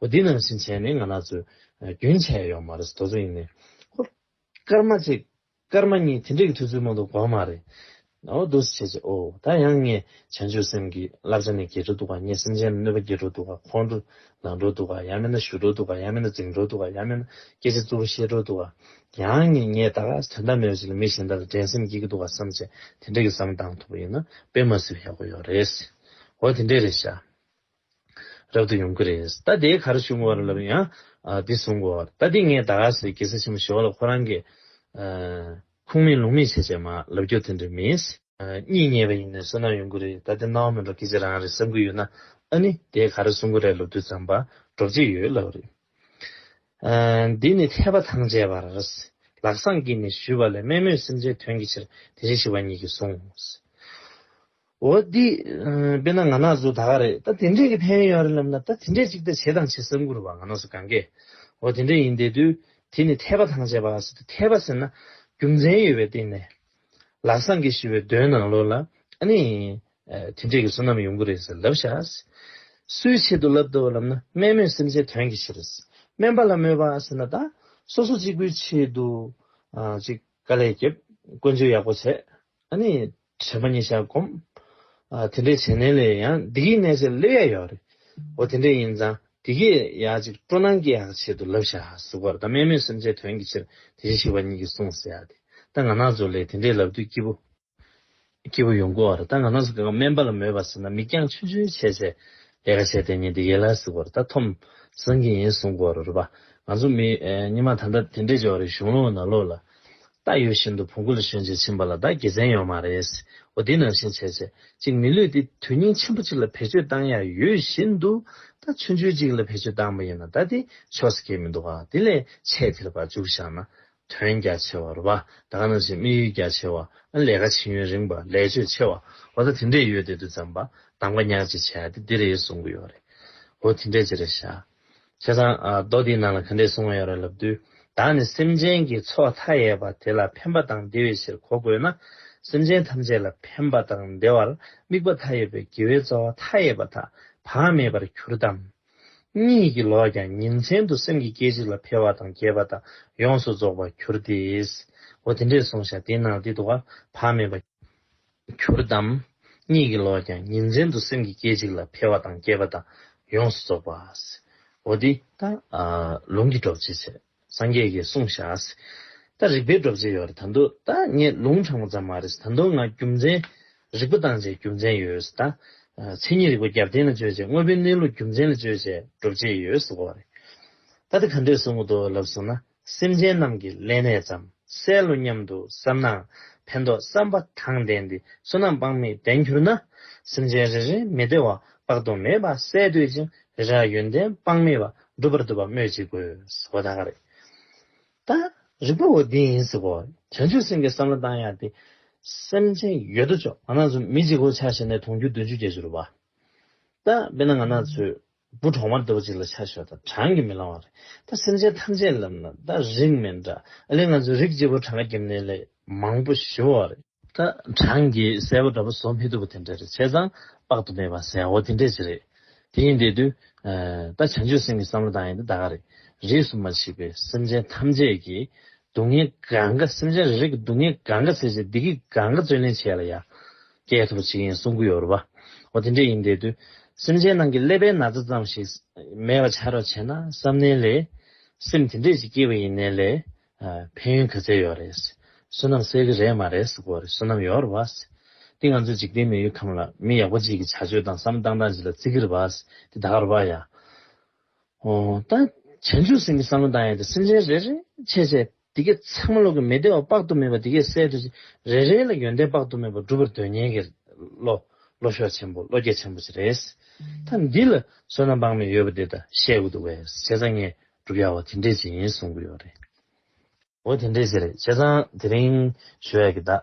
འོ་འདི་ནང་བཞིན་བྱས་ནས་ང་ནག་ཚོས་རྒྱུན་ཆད་ཡོང་མ་རེད་དོ་ཚོ་ཡིན་ནའི་ཧོ། སྐར་མ་གཅིག་སྐར་མ་གཉིས་དེ་འདྲས་ཀྱི་དུས་ཚོད་མང་དུ་དགོས་མ་རེད་ཨོ་འདུ་སེ་བྱས་རྗེས་ཨོ་ད་ཡང་ངས་བྱང་ཆུབ་སེམས་ཀྱི་བསླབ་བྱ་ནི་རྒྱས་འགྲོ་འདུག་ག་ངས་སེམས་ཅན་ལ་གནོད་པ་བགྱིད་འགྲོ་འདུག་ག་ཁོང་ཁྲོ་ལང་འགྲོ་འདུག་ག་ཡང་མིན་ན་བཞུད་འགྲོ་འདུག་ག་ཡང་མིན་ན་འཛིང་འགྲོ་འདུག་ག་ཡང་མིན་ན་སྐད་ཆ་རྩུབ་པོ་བཤད་འགྲོ་འདུག་ག་ཡང་ངས་ངས་ད་ག་དོན་དག་མེད་པ་ཞིག་ལ་མི་གཞན་དག་ལ་འགྲན་སེམས་སྐྱེ་གི་འདུག་ག་བསམ་བྱས་དེ་འདྲ་གི་བསམ་གཏང་ཐུབ་པ་ཡིན་ན་དཔེ་མ་ཟོས་ཡག་པོ་ཡོད་རེད། འོ་དེ་འདྲས་རེད་ཤག་རབ་ཏུ་ཡོང་གི་རེད་ད་དེའི་གར་ཞུ་འགོ་བ་ར་ལབ་ཡང་འདི་བཟུང་འགོ་བ་ད་འདི་ངས་ད་ག་ཟེར་གེ་སར་ཆེན་མོ་ཞི་བ་ལ་ཁོ་རང་གི་ཁུངས་མེད་ལུང་མེད་བྱས་བྱས་མ་ལབ་རྒྱུ་དེ་འདྲ་མིན། གཉིད་ཉལ་བ་ཡིན་ནའི་བསོད་ནམས་ཡོང་གི་རེད་ད་དེ་སྣང་བ་མིན་པར་ཁྱེད་ཀྱི་རང་རེད་བསམ་གི་ཡོད་ན་ཨ་ནི་དེས་ག་རེ་གསུང་གི་རེད་ལོ་དུས་ཙམ་པར་འགྲོ་བརྗེད་ཡོད་ལབ་རེད། འདི་ནི་འཐད་པ་ཐང་ཆད་པར་ལག་སངས་ཀྱིས་ནི་ཞུས་པ་ལས་དམན་མོས་སེམས་ཅན་དོན་གྱི་ཕྱིར་དེ་བཞིན་ཞིག་བ་ཉིད་ཀྱིས་གསུངས། འོ་འདི་དཔེ་ན་ང་ནག་ཟུག་ད་ག་རེད་ད་དེ་འདྲས་ཀྱི་ཕན་ཡོད་ཡོང་རེད་ལབ་ན་ད་དེ་འདྲས་ཅིག་ད་བྱེད་དང་བྱེད་བསམ་གི་རུ་བ་ང་ནག་ཟུག་གང་གས་འོ་དེ་འདྲས་ཡིན་དེ་དུས་དེ་ནི་འཐད་པ་ཐང་ཆད་པ་ཟེར་དུས་འཐད་པ་ཟེར་ན་རྒྱུ་མཚན་ཡོད་པའི་སྟེང་ནས་ལག་བཟང་གིས་ཞི་བའི་སྡོད་ནང་ལོག་ལ། ཨ་ནི། དེ་འདྲས་ཀྱི་བསོད་ནམས་ཡོང་གི་རེད་ཟེར་ལབ་བཞག། སུའི་ཆེད་དུ་ལབ་འདོད་པ་ལབ་ན་སྨན་མོས་སེམས་ཅན་དོན་གྱི་ཕྱིར། སྨན་པ་ལ་དམོད་པ་ཟེར་ན་དག་སོ་སོ་གཅིག་པུའི་ཆེད་དུ། ཅིག་དཀའ་ལས་བརྒྱབ། བཀོན་ཇུས་ཡག་པོ་བྱས། ཨ་ནི། དྲན་པ་ཉིད་བཞག་བསྒོམ། དེ་འདྲས་བྱས་ནས་ལས་ཡང་འདི་གིས་གནས་ཚད་སླེབས་ཡ་ཡོད་རེད། འོ་དེ་འདྲས་ཡིན་ཙང་དེ་སྐད་ཡག་ཅིག་སྤྲོ་སྣང་སྐྱེ་ཡག་ཆེད་དུ་ལབ་བཞག་ཟུག་པར་ད་སྨད་མོད་སེམས་ཅན་དོན་གྱི་ཕྱིར་དེ་བཞིན་གཤེགས་པ་ཉིད་ཀྱིས་གསུངས་ཟེར་ཡག་དེ་ད་ང་ནག་ཛོ་ལས་དེ་འདྲའི་ལབ་དུས་སྐྱིད་པོ། སྐྱིད་པོ་ཡོང་གོ་བར་ད་ང་ནག་ཟུག་གི་ང་སྨན་པ་ལ་མོས་པ་ཟེར་ན་མིག་རྒྱང་ཆུ་ཆུ་བྱས་བྱས་ལས་ཀ་བྱས་དེ་ཉིད་དེ་ཡེ་ལ་ཟུག་པར་ད་ཐོམ་བཟང་གི་ཡིན་གསུངས་གོ་རོ་རོ་པ་ང་ཚོ་མི་ཉི་མ་ད་ལྟ་དེ་འདྲས་བྱས་བ་རེད་གཞུང་ལོག་ན་ལོག་ལ་བདག་ཡོད་བཞིན་དུ་བོང་གུ་ལ་ཞོན་ཅིག་ཕྱིན་པ་ལ་བདག་དགེ་མཚན་ཡོད་མ་རེད། འོ་དེ་ནང་བཞིན་བྱེད། ཅིག་མི་ལུས་ཏེ་དོན་སྙིང་ཆེན་པོ་ཅིག་ལ་བེད་སྤྱོད་བཏང་ཡ་ཡོད་བཞིན་དུ། ད་ཆུ་འཇུ་ཅིག་ལ་བེད་སྤྱོད་བཏང་པ་ཡིན་ན་ད་དེ་ཆོས་སུ་གྱེས་མི་འདུག་ག་དེ་ལས་ཆེས་ཐལ་བར་འཇུག་བཞག་ན། དོན་རྒྱ་ཆེ་བ་རུ་བ་ད་ག་ནང་བཞིན་དམིགས་ཡུལ་རྒྱ་ཆེ་བ། ཨ་ལས་ཀ་བྱེད་ཡུན་རིང་བ་ལས་ཆོད་ཆེ་བ། འོ་ད་དེ་འདྲས་ཡོད་དེ་དུས་ཙམ་བ་དང་བ་ཉག་ཅིག་བྱས་ཏེ་འདི་རེད་གསུང་གི་ཡོད་རེད། འོ་དེ་འདྲས་ཅི་རེད་བཞག། བྱས་ཙང་རྡོ་འདིའི་ནང་ལ་ག་འདྲའི་སྲུང་བ་ཡོད་རེད་ལབ་དུས་བདག་ནི་སེམས་ཅན་གྱི་ཚོགས་མཐའ་ཡས་པ་དེ་ལ་ཕན་པ་དང་བདེ་བའི་ཕྱིར་གོ་དགོས་ན་སེམས་ཅན་ཐམས་ཅད་ལ་ཕན་པ་དང་བདེ་བར་དམིགས་པ་མཐའ་ཡས་པའི་དགེ་བའི་རྩ་བ་མཐའ་ཡས་པ་དག་བག་མེད་པར་གྱུར་ཏམ། གཉིད་ཀྱི་ལོག་ཀྱང་ཉིན་མཚན་དུ་སེམས་ཀྱི་སྐད་ཅིག་ལ་འཕེལ་བ་དང་རྒྱས་པ་དག་ཡོངས་སུ་རྫོགས་པར་གྱུར་ཏེ། འོ་དེ་འདྲའི་སྲུང་བྱ་དེ་ནང་འདི་དུ་བ་བག་མེད་པ། གྱུར་ཏམ། གཉིད་ཀྱི་ལོག་ཀྱང་ཉིན་མཚན་དུ་སེམས་ཀྱི་སྐད་ཅིག་ལ་འཕེལ་བ་དང་སྐྱེས་པ་དང་ཡོངས་སུ་རྫོགས་པ། འོ་དེ། ད་ལུང་གི་སྒྲོག་བྱེད་ཚེ་སངས་རྒྱས་ཀྱིས་གསུངས་ཤ་ཟེ། ད་རིག་པའི་སྒྲོག་བྱེད་ཡོད་རེད་ད་འདོད་ད་ངས་ལུང་དྲངས་པ་ཙམ་མ་རེད་ད་འདོད་ང་རྒྱུ་མཚན། རིག་པ་བཏང་བྱས་རྒྱུ་མཚན་ཡོད་ཟེ་ད། མཚན་ཉིད་རིག་པ་རྒྱབ་རྟེན་ལ་བཅོལ་བྱས་དངོས་པོའི་གནས་ལུགས་རྒྱུ་མཚན་ལ་བཅོལ་བྱས་སྒྲོབ་བྱེད་ཡོད་ཟེ་བ་རེད། ད་དེ་ག་འདྲས་བཟུང་གི་འདུག་ལབ་སོང་ན། སེམས་ཅན་རྣམས་ཀྱི་ལས་ནས་བརྩམ་སེ་ལོ་སྙམ་དུ་བསམ་ནའང་ཕན་འདོགས་བསམ་པ་དང་ལྡན་ཏེ་བསོད་ནམས་དཔག་མེད་ལྡན་གྱུར་ན། སེམས་ཅན་རེ་རེའི་མི་བདེ་བ་དཔག་ཏུ་མེད་པ་སེལ་འདོད་ཅིང་རེ་རེའང་ཡོན་ཏན་དཔག་མེད་པ་འགྲུབ་པར་འདོད་པ་སྨོས་ཅི་དགོས། བོ་ད་ག་རེད། ད་རིག་པ་བོ་འདི་ཡིན་ཟེར་བོ། བྱང་ཆུབ་སེམས་ཀྱི་བསམ་བློ་བཏང་ཡག་སྟེ། སེམས་ཅན་ཡོད་དོ་ཅོག་ང་ནགས་ཚོ་མི་གཅིག་གོ་ཆ་བྱས་ནས་དུང་ཕྱུར་བདུན་ཅུ་བརྒྱད་ཅུ་རུ་བ། ད་དཔེར་ན་ང་ནགས་ཚོས་སྦུ་གྲོག་མ་ལྟ་བུ་ཅིག་ལ་ཆ་ཞོ་དང་བགྲང་གིས་མི་ལང་བ་རེད་ད་སེམས་ཅན་ཐམས་ཅད་ལབ་ན་ད་རིགས་མེད་འདྲ་ཨ་ལེ་ང་ཚོའི་རིགས་སྐྱེས་བུ་བགྲང་གིས་ནི་ལས་མང་པོ་ཞི་བ་རེད། ད་བགྲང་གིས་གསལ་བོ་འདྲ་པོ་བཟོ་མི་ཐུབ་པ་དེ་འདྲ་རེད་བྱས་ཙང་དཔག་ཏུ་མེད་པ་ཟེར་ཡ་འོ་དེ་འདྲས་ཅིག་རེད་དེ་ཡིན་དེ་དུས་ད་བྱང་ཆུབ་སེམས་ཀྱི་བསམ་བློ་དང་ཡང་དེ་ད་ག་རེད་རིས་སུ་མ་མཆིས་པའི་སེམས་ཅན་ཐམས་ཅད་ཀྱིས་སྡུག་བསྔལ་གང་གཱ་སེམས་ཅན་རེ་རེ་གི་སྡུག་བསྔལ་གང་གཱ་ཚེ་ཚེ་སྡིག་གི་གང་གཱ་བརྩོན་ལེན་བྱས་ལ་ཡང། སྐྱེ་ཐུབ་པ་ཅིག་ཡིན་གསུང་གི་ཡོད་རེད་པ། འོ་དེ་འདྲ་ཡིན་དེ་དུས། སེམས་ཅན་ནང་གི་ཀླད་པའི་ན་ཚ་ཙམ་ཞིག། མེད་པ་བྱ་རོགས་བྱས་ན་བསམ་ནའི་ལས། སེམས་དེ་འདྲས་ཅིག་སྐྱེས་པ་ཡིན་ནའི་ལས། ཕན་ཡོན་ག་ཚད་ཡོད་རེད། བསོད་ནམས་གསལ་གི་རེད་མ་རེད་ཟེར་དགོས་རེད་བསོད་ནམས་ཡོད་རེད་པ། འདི་ང་ཚོའི་འཇིག་རྟེན་མི་ཡུལ་ཁམས་ལ་མི་ཡག་པོ་ཅིག་གི་བྱ་སྤྱོད་དང་བསམ་སྟངས་དང་བྱེད་ལ་བརྩི་གི་རེད་པ། འདི་ད་ག་རེད་པ་ཡ། ད་བྱང་ཆུབ་སེམས་ཀྱི་བསམ་བློ་འདང་ཡང་དེ་སེམས་ཅན་རེ་རེ་ཆད་ཆད་དེ་གས་ཚང་མ་ལོག་གི་མི་བདེ་བ་དཔག་ཏུ་མེད་པ་དེ་གས་སེལ་དུ་རེ་རེ་ལ་ཡོན་ཏན་དཔག་ཏུ་མེད་པ་འགྲུབ་པར་འདོད་ཉན་གྱི་བློ་བློ་ཤོག་ཆེན་པོ་བློ་སྐྱེད་ཆེན་པོ་ཅིག་རེད། ད་འདི་ལ་བསོད་ནམས་དཔག་མེད་ཡོད་པ་འདི་ད་བཤད་དགོས་འདུག་བས་བྱས་ཙང་ངས་བསྒྲུབ་ཡག་བ་དེ་འདྲས་ཅིག་ཡིན་གསུང་གི་ཡོད་རེད། འོ་དེ་འདྲས་ཟེར། བྱས་ཙང་དེ་རིང་ཞུ་ཡག་གི་དག་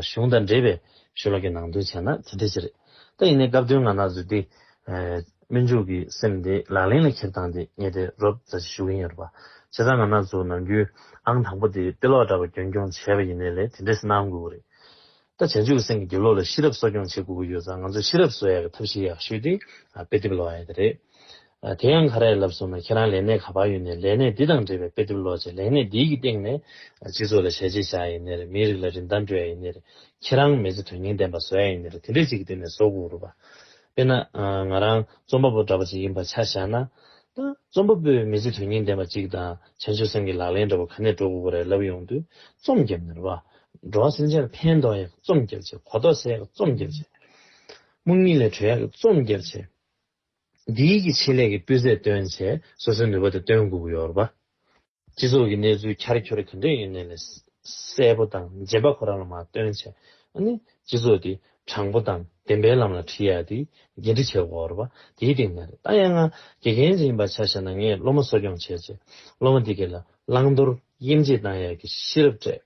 གཞུང་དང་འབྲེལ་བའི་ཞུ་ལག་གི་ནང་དོན་བྱས་ན་དེ་འདྲས་ཟེར། ད་ཡིན་ནའི་སྐབས་དོན་ང་ནག་འཛུལ་ཏེ། སྨོན་འཇུག་གི་སེམས་དེ་ལག་ལེན་ལ་འཁྱེར་སྟངས་དེ་ངས་དེ་རོབ་རྩ་ཆེ་ཞུ་གིན་ཡོད་རེད་པ། བྱས་ཙང་ང་ནག་འཛུག་ནང་རྒྱུན་ཨང་དང་པོ་དེ་དཔེ་ཀློག་འདྲ་པར་རྒྱུན་སྐྱོང་བྱས་པ་ཡིན་ནའི་ལས་དེ་འདྲས་སྣང་དགོས་ཀི་རེད། ད་བྱང་ཆུབ་སེམས་ཀྱི་རྒྱུ་ལོ་ལ་ཤེས་རབ་གསོ་སྐྱོང་བྱེད་དགོས་ཀྱི་ཡོད་ཙང་ང་ཚོ་ཤེས་རབ་གསོ་ཡ་གི་ཐབས་ཤེས་ཡག་ཤོས་དེ་དཔེ་དེབ་ཀློག་ཡ་དེ་རེད། དེ་ཡང་ག་རེ་ལབ་སོང་ན་ཁྱེད་རང་ལས་གནས་ག་པར་ཡོད་ནས་ལས་གནས་འདི་དང་འབྲེལ་བའི་དཔེ་དེབ་ཀློག་རྗེས་ལས་གནས་འདིའི་གི་སྟེང་ནས་སྤྱི་ཚོགས་ལ་ཞལ་ཆེ་བཞག་ཡ་ནི་རེད་མིའི་རིགས་ལ་རིན་ཐང་སྤྲོད་ཡ་ཡི་ནི་རེད་ཁྱེད་རང་མི་ཚེ་དོན་སྙིང་ལྡན་པ་བཟོ་ཡ་ཡི་ནི་རེད་དེ་འདྲས་ཅིག་གི་སྟེང་ནས་བཟོ་དགོས་རུ་བ། དཔེར་ན། ང་རང་རྩོམ་པ་པོ་འདྲ་པོ་ཅིག་ཡིན་པ་ཆ་བཞག་ན། ད་རྩོམ་པ་པོས་མི་ཚེ་དོན་སྙིང་ལྡན་པ་ཅིག་དང་བྱང་ཆུབ་སེམས་ཀྱི་ལག་ལེན་འདྲ་པོ་ག་ནས་འགྲོ་དགོས་པ་རེད་ལབ་ཡོང་དུས་རྩོམ་རྒྱབ་ནི་རུ་བ། འགྲོ་བ་སེམས་ཅན་ལ་ཕན་འདོགས་ཡག་རྩོམ་རྒྱག་བྱེད་གོ་རྟོགས་སད་ཡག་རྩོམ་རྒྱག་བྱེད་སྨུག་སྨྱིག་ལས་གྲོལ་ཡག་རྩོམ་རྒྱག་བྱེད། འདི་ཡིག་གི་ཆེད་ལས་ཀྱི་སྤུས་ཚད་བཏོན་ཆེད་སོ་སོའི་ནུས་པ་དེ་བཏོན་དགོས་ཀྱི་ཡོད་རེད་པ། སྤྱི་ཚོགས་ཀྱི་གནས་ཚུལ་འཁྱར་འཁྱོར་གང་འདྲ་ཡིན་ནའི་ལས་གསལ་པོ་དང་རྗེན་པ་ཁོ་རང་ལ་མ་བཏོན་ཆེད་ཨ་ནི་སྤྱི་ཚོགས་དེ་དྲང་པོ་དང་བདེན་པའི་ལམ་ལ་ཁྲིད་ཡག་དེ་འགན་འཁྲི་བྱེད་དགོས་རེད་པ་དེའི་སྟེང་ནས་རེད་ད་ཡང་ང་དགེ་རྒན་ཅིག་ཡིན་པ་ཆ་ཤས་ན་ངས་སློབ་མ་གསོ་སྐྱོང་བྱས་རྗེས་སློབ་མ་དེ་ག་ལ་བླང་དོར་དབྱེ་འབྱེད་གཏང་ཡག་གི་ཤེས་རབ་སྤྲད།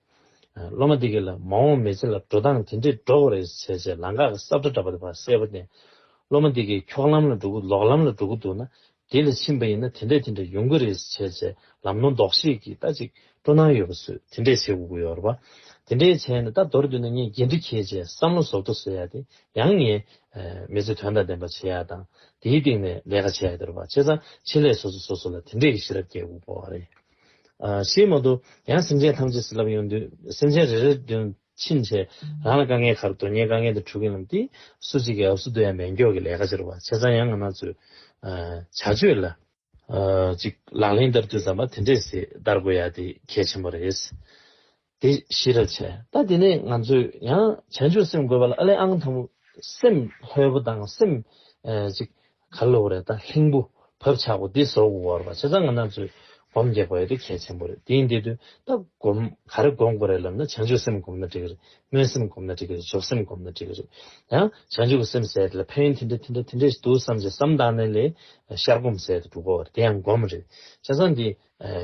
སློབ་མ་དེ་གིས་ལ་མ་འོངས་མི་ཚེ་ལ་འགྲོ་སྟངས་དེ་འདྲས་འགྲོ་དགོས་རེད་ཟེར་ཚེ་ལང་ཀ་གི་སྲབ་མདའ་འདྲ་པོ་དེ་བར་གསལ་པོ་བསྟན། སློབ་མ་དེ་གིས་འཁྱོག་ལམ་ལ་འགྲོ་གི་ལོག་ལམ་ལ་འགྲོ་གི་འདུག་ན་དེ་ལ་ཕྱིན་པ་ཡིན་ན་དེ་འདྲས་དེ་འདྲས་ཡོང་གི་རེད་ཟེར་ཚེ་ལམ་ནོར་འདོགས་བྱེད་ཀྱི་རྟ་ཅིག་སྤྲོ་སྣང་ཡོད་པ་ཚོས་དེ་འདྲས་བྱེད་དགོས་ཀྱི་ཡོད་རེད་པ། དེ་འདྲས་བྱས་ནས་རྟ་འདོར་འདོད་ན་ངས་འགན་འཁྲི་ཁྱེད་ཅེས་བསམ་བློ་ཟོག་འདྲ་བཟོས་ཡ་དེ་ཡང་ངས་མི་ཚེ་དོན་དང་ལྡན་པ་བྱེད་ཡ་དང་དེའི་སྟེང་ནས་ལས་ཀ་བྱེད་ཡ་དེ་རེད་པ་བྱས་ཙང་ཆེད་ལས་སོ་སོས་སོ་སོ་ལ་དེ་འདྲས་ཀྱི་ཤེས་རབ་བསྐྱེད་དགོས་པ་རེད། ཞེས་སྨྲ། དུ་ཡང་སེམས་ཅན་ཐམས་ཅད་ཟིལ་ལབ་ཡོང་དུས་སེམས་ཅན་རེ་རེ་དོན་ཕྱིན་ཆད་རང་ལ་དཀའ་ངལ་ག་རེ་དོན་གཉེར་དཀའ་ངལ་དེ་འཁྲུག་མཁན་རྣམས་ཏེ་སུ་གཅིག་གི་ཨབས་སུ་བསྡུ་ཡང་མེད་མགྱོགས་ཀྱི་ལས་ཀ་བྱེད་རོགས་བྱས་ཙང་ཡང་ང་ནག་ཚོས་བྱ་སྤྱོད་ལ། ཅིག་ལག་ལེན་བསྟར་དུས་བསམ་པ་དེ་འདྲས་སེ་བསྟར་དགོས་ཡ་དེ་གལ་ཆེན་པོ་རེད། དེ་གཞི་ར་བྱས། ད་དེ་ནས་ང་ཚོས་ཡང་བྱང་ཆུབ་སེམས་དགོད་པ་ལ་ཨ་ལས་ཨང་དང་པོ་སེམས་ལྷོད་པོ་དང་སེམས་གཅིག་ག་ལ་ལོག་རེད་ད་ལྷིང་པོ་བབ་ཆགས་པོ་འདི་བཟོ་དགོས་བར་བ་བྱེད་ཙང་ང་ནག་ཚོས་སྒོམ་རྒྱག་པ་ཡོད་དེ་གལ་ཆེན་པོ་རེད་དེ་ཡིན་དེ་དུས་ད་སྒོམ་ག་རེ་སྒོམ་དགོས་རེད་ལབ་ན་བྱང་ཆུབ་སེམས་སྒོམ་ན་འགྲིག་གི་རེད་སྨོན་སེམས་སྒོམ་ན་འགྲིག་གི་རེད་འཇོག་སེམས་སྒོམ་ན་འགྲིག་གི་རེད་ཡང་བྱང་ཆུབ་ཀྱི་སེམས་ཟད་དེ་ལ་ཕན་ཡོན་དེ་འདྲ་དེ་འདྲ་དེ་འདྲ་ཞིག་འདུག་བསམ་བྱས་སམ་བདག་གནས་ལས་ཤར་སྒོམ་ཟད་དེ་འགྲོ་དགོས་བར་དེ་ཡང་སྒོམ་རེད་བྱས་ཙང་དེ་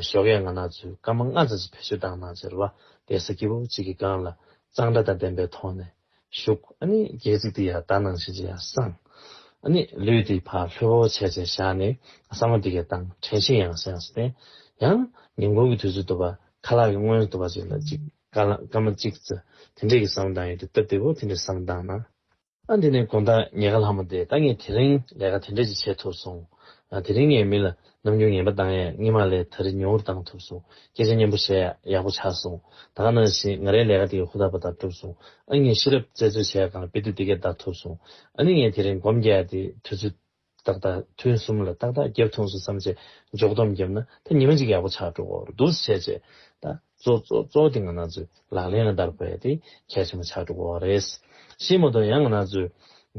ཞོགས་ཡ་ང་ནག་ཚོས་སྐར་མ་ལྔ་ཙམ་ཞིག་བེད་སྤྱོད་བཏང་ནང་ཆར་བ་དེ་ས་སྐྱིད་པོ་གཅིག་གི་སྒང་ལ་གཙང་སྦྲ་དང་ལྡན་པའི་ཐོག་ནས་བཞུགས་ཨ་ནི་སྒལ་ཚིགས་དེ་ཡང་དག་སྣང་བྱེད་ཅིག་ཡང་བསམ། ཨ་ནི་ལུས་དེའི་བར་ལྷོད་བོ་བྱས་བྱས་བཞག་ནས་བསམ་བློ་འདི་གའི་སྟངས་དྲན་ཤིང་ཡང་ས་ཡང་ས་བསྟན། ཡང་ཉིན་གུང་གི་དུས་ཚོད་དུ་བ་ཁ་ལག་གི་སྔོན་དུ་བ་ཅིག་ལ་ཅིག་སྐར་མ་གཅིག་ཙི་དེ་འདྲས་ཀྱི་བསམ་བློ་བཏང་ཡོད་དུས་སྟབས་བདེ་བོ་དེ་འདྲའི་བསམ་བློ་བཏང་ན། ཨ་འདི་ནས་དགོན་བདག་ཉེ་དགའ་ལྷ་མོ་དེ་ད་ངས་དེ་རིང་ལས་ཀ་དེ་འདྲ་ཅིག་བྱེད་ཐུབ་སོང། དེ་རིང་ངས་མི་ལ་ནམ་རྒྱུན་ངན་པ་བཏང་ཡས་སྔིན་མ་ལས་ད་རི་ཉོ་བོར་བཏང་ཐུབ་སོང་སྐད་ཆ་སྙན་པོ་བཤད་ཡག་པོ་ཆགས་སོང་ད་ག་ནང་བཞིན་ང་རའི་ལས་ཀ་དེ་ཧུར་ཐག་པ་ད་གྲུབ་སོང་ཨ་ངས་ཤེས་རབ་བཙལ་འཚོལ་བྱས་ཀང་དཔེ་དུས་དེ་སྐད་བདག་ཐུབ་སོང་ཨ་ནི་ངས་དེ་རིང་སྒོམ་རྒྱག་ཡས་དེ་དུས་ཚོད། རྟག་དང་ཐུན་གསུམ་ལ་ཏག་ཏག་བརྒྱབ་ཐུངས་སོ་བསམ་བྱས། འཇོག་སྡོམ་བརྒྱབ་ན་ད་ཉི་མ་གཅིག་ཡག་པོ་ཆགས་འགྲོ་གོ་རུ་འདུག་བྱས་བྱས། ད་གཙོ་གཙོ་གཙོ་དེ་ང་ན་ཚོས་ལག་ལེན་ལ་བསྟར་དགོས་ཡ་དེ་གལ་ཆེན་པོ་ཆགས་འགྲོ་གོ་རེད། ཤེས་མ་གཏོགས་ཡང་ང་ན་ཚོས་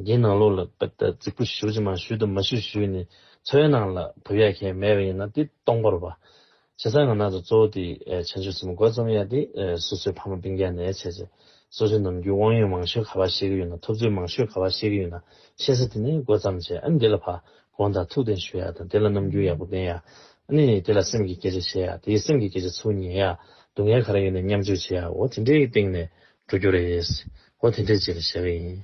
འདིའི་ནང་ལོགས་ལ་པད་ད་རྫིག་པོ་ཞུ་ཅི་མ་ཞུ་དུ་མ་ཞུ་ཞུས་ནས་ཚོའི་ནང་ལ་བུད་ཡ་གལ་མེད་པ་ཡིན་ན་དེ་སྟོང་པར་བ། བྱས་ཙང་ང་ནང་དུ་གཙོ་བོ་དེ་བྱང་ཆུབ་སེམས་དཔའ་འགོ་རྩོམ་ཡ་དེ་སོ་སོའི་ཕ་མ་སྤུན་རྒྱ་ནས་བྱས་ཚེ་སོ་སོའི་ནམ་རྒྱུན་དབང་ཡོན་མང་ཤོས་ག་པར་ཤེས་ཀྱི་ཡོད་ན་ཐོབ་ཚུལ་མང་ཤོས་ག་པར་ཤེས་ཀྱི་ཡོད་ན་ཤེས་ཚེ་དེ་ནས་འགོ་རྩམ་བྱས་ཨ་ནི་དེ་ལ་ཕ་དགོངས་དང་ཐུགས་གཏན་ཞུ་ཡ་དང་དེ་ལ་ནམ་རྒྱུན་ཡག་པོ་བསྟེན་ཡ་ཨ་ནི་དེ་ལ་སེམས་ཀྱི་སྐད་ཆ་བཤད་ཡ་དེའི་སེམས་ཀྱི་སྐད་ཆ་ཚུར་ཉན་ཡ་སྡུག་བསྔལ་ག་རེ་ཡོད་ན་མཉམ་སྤྱོད་བྱེད་ཡ་འོ་དེ་འདྲའི་སྟེང་ནས་འགྲོ་རྒྱུ་རེད་འོ་དེ་འདྲའི་རྗེས་ལ་བཞག་གི་ཡིན།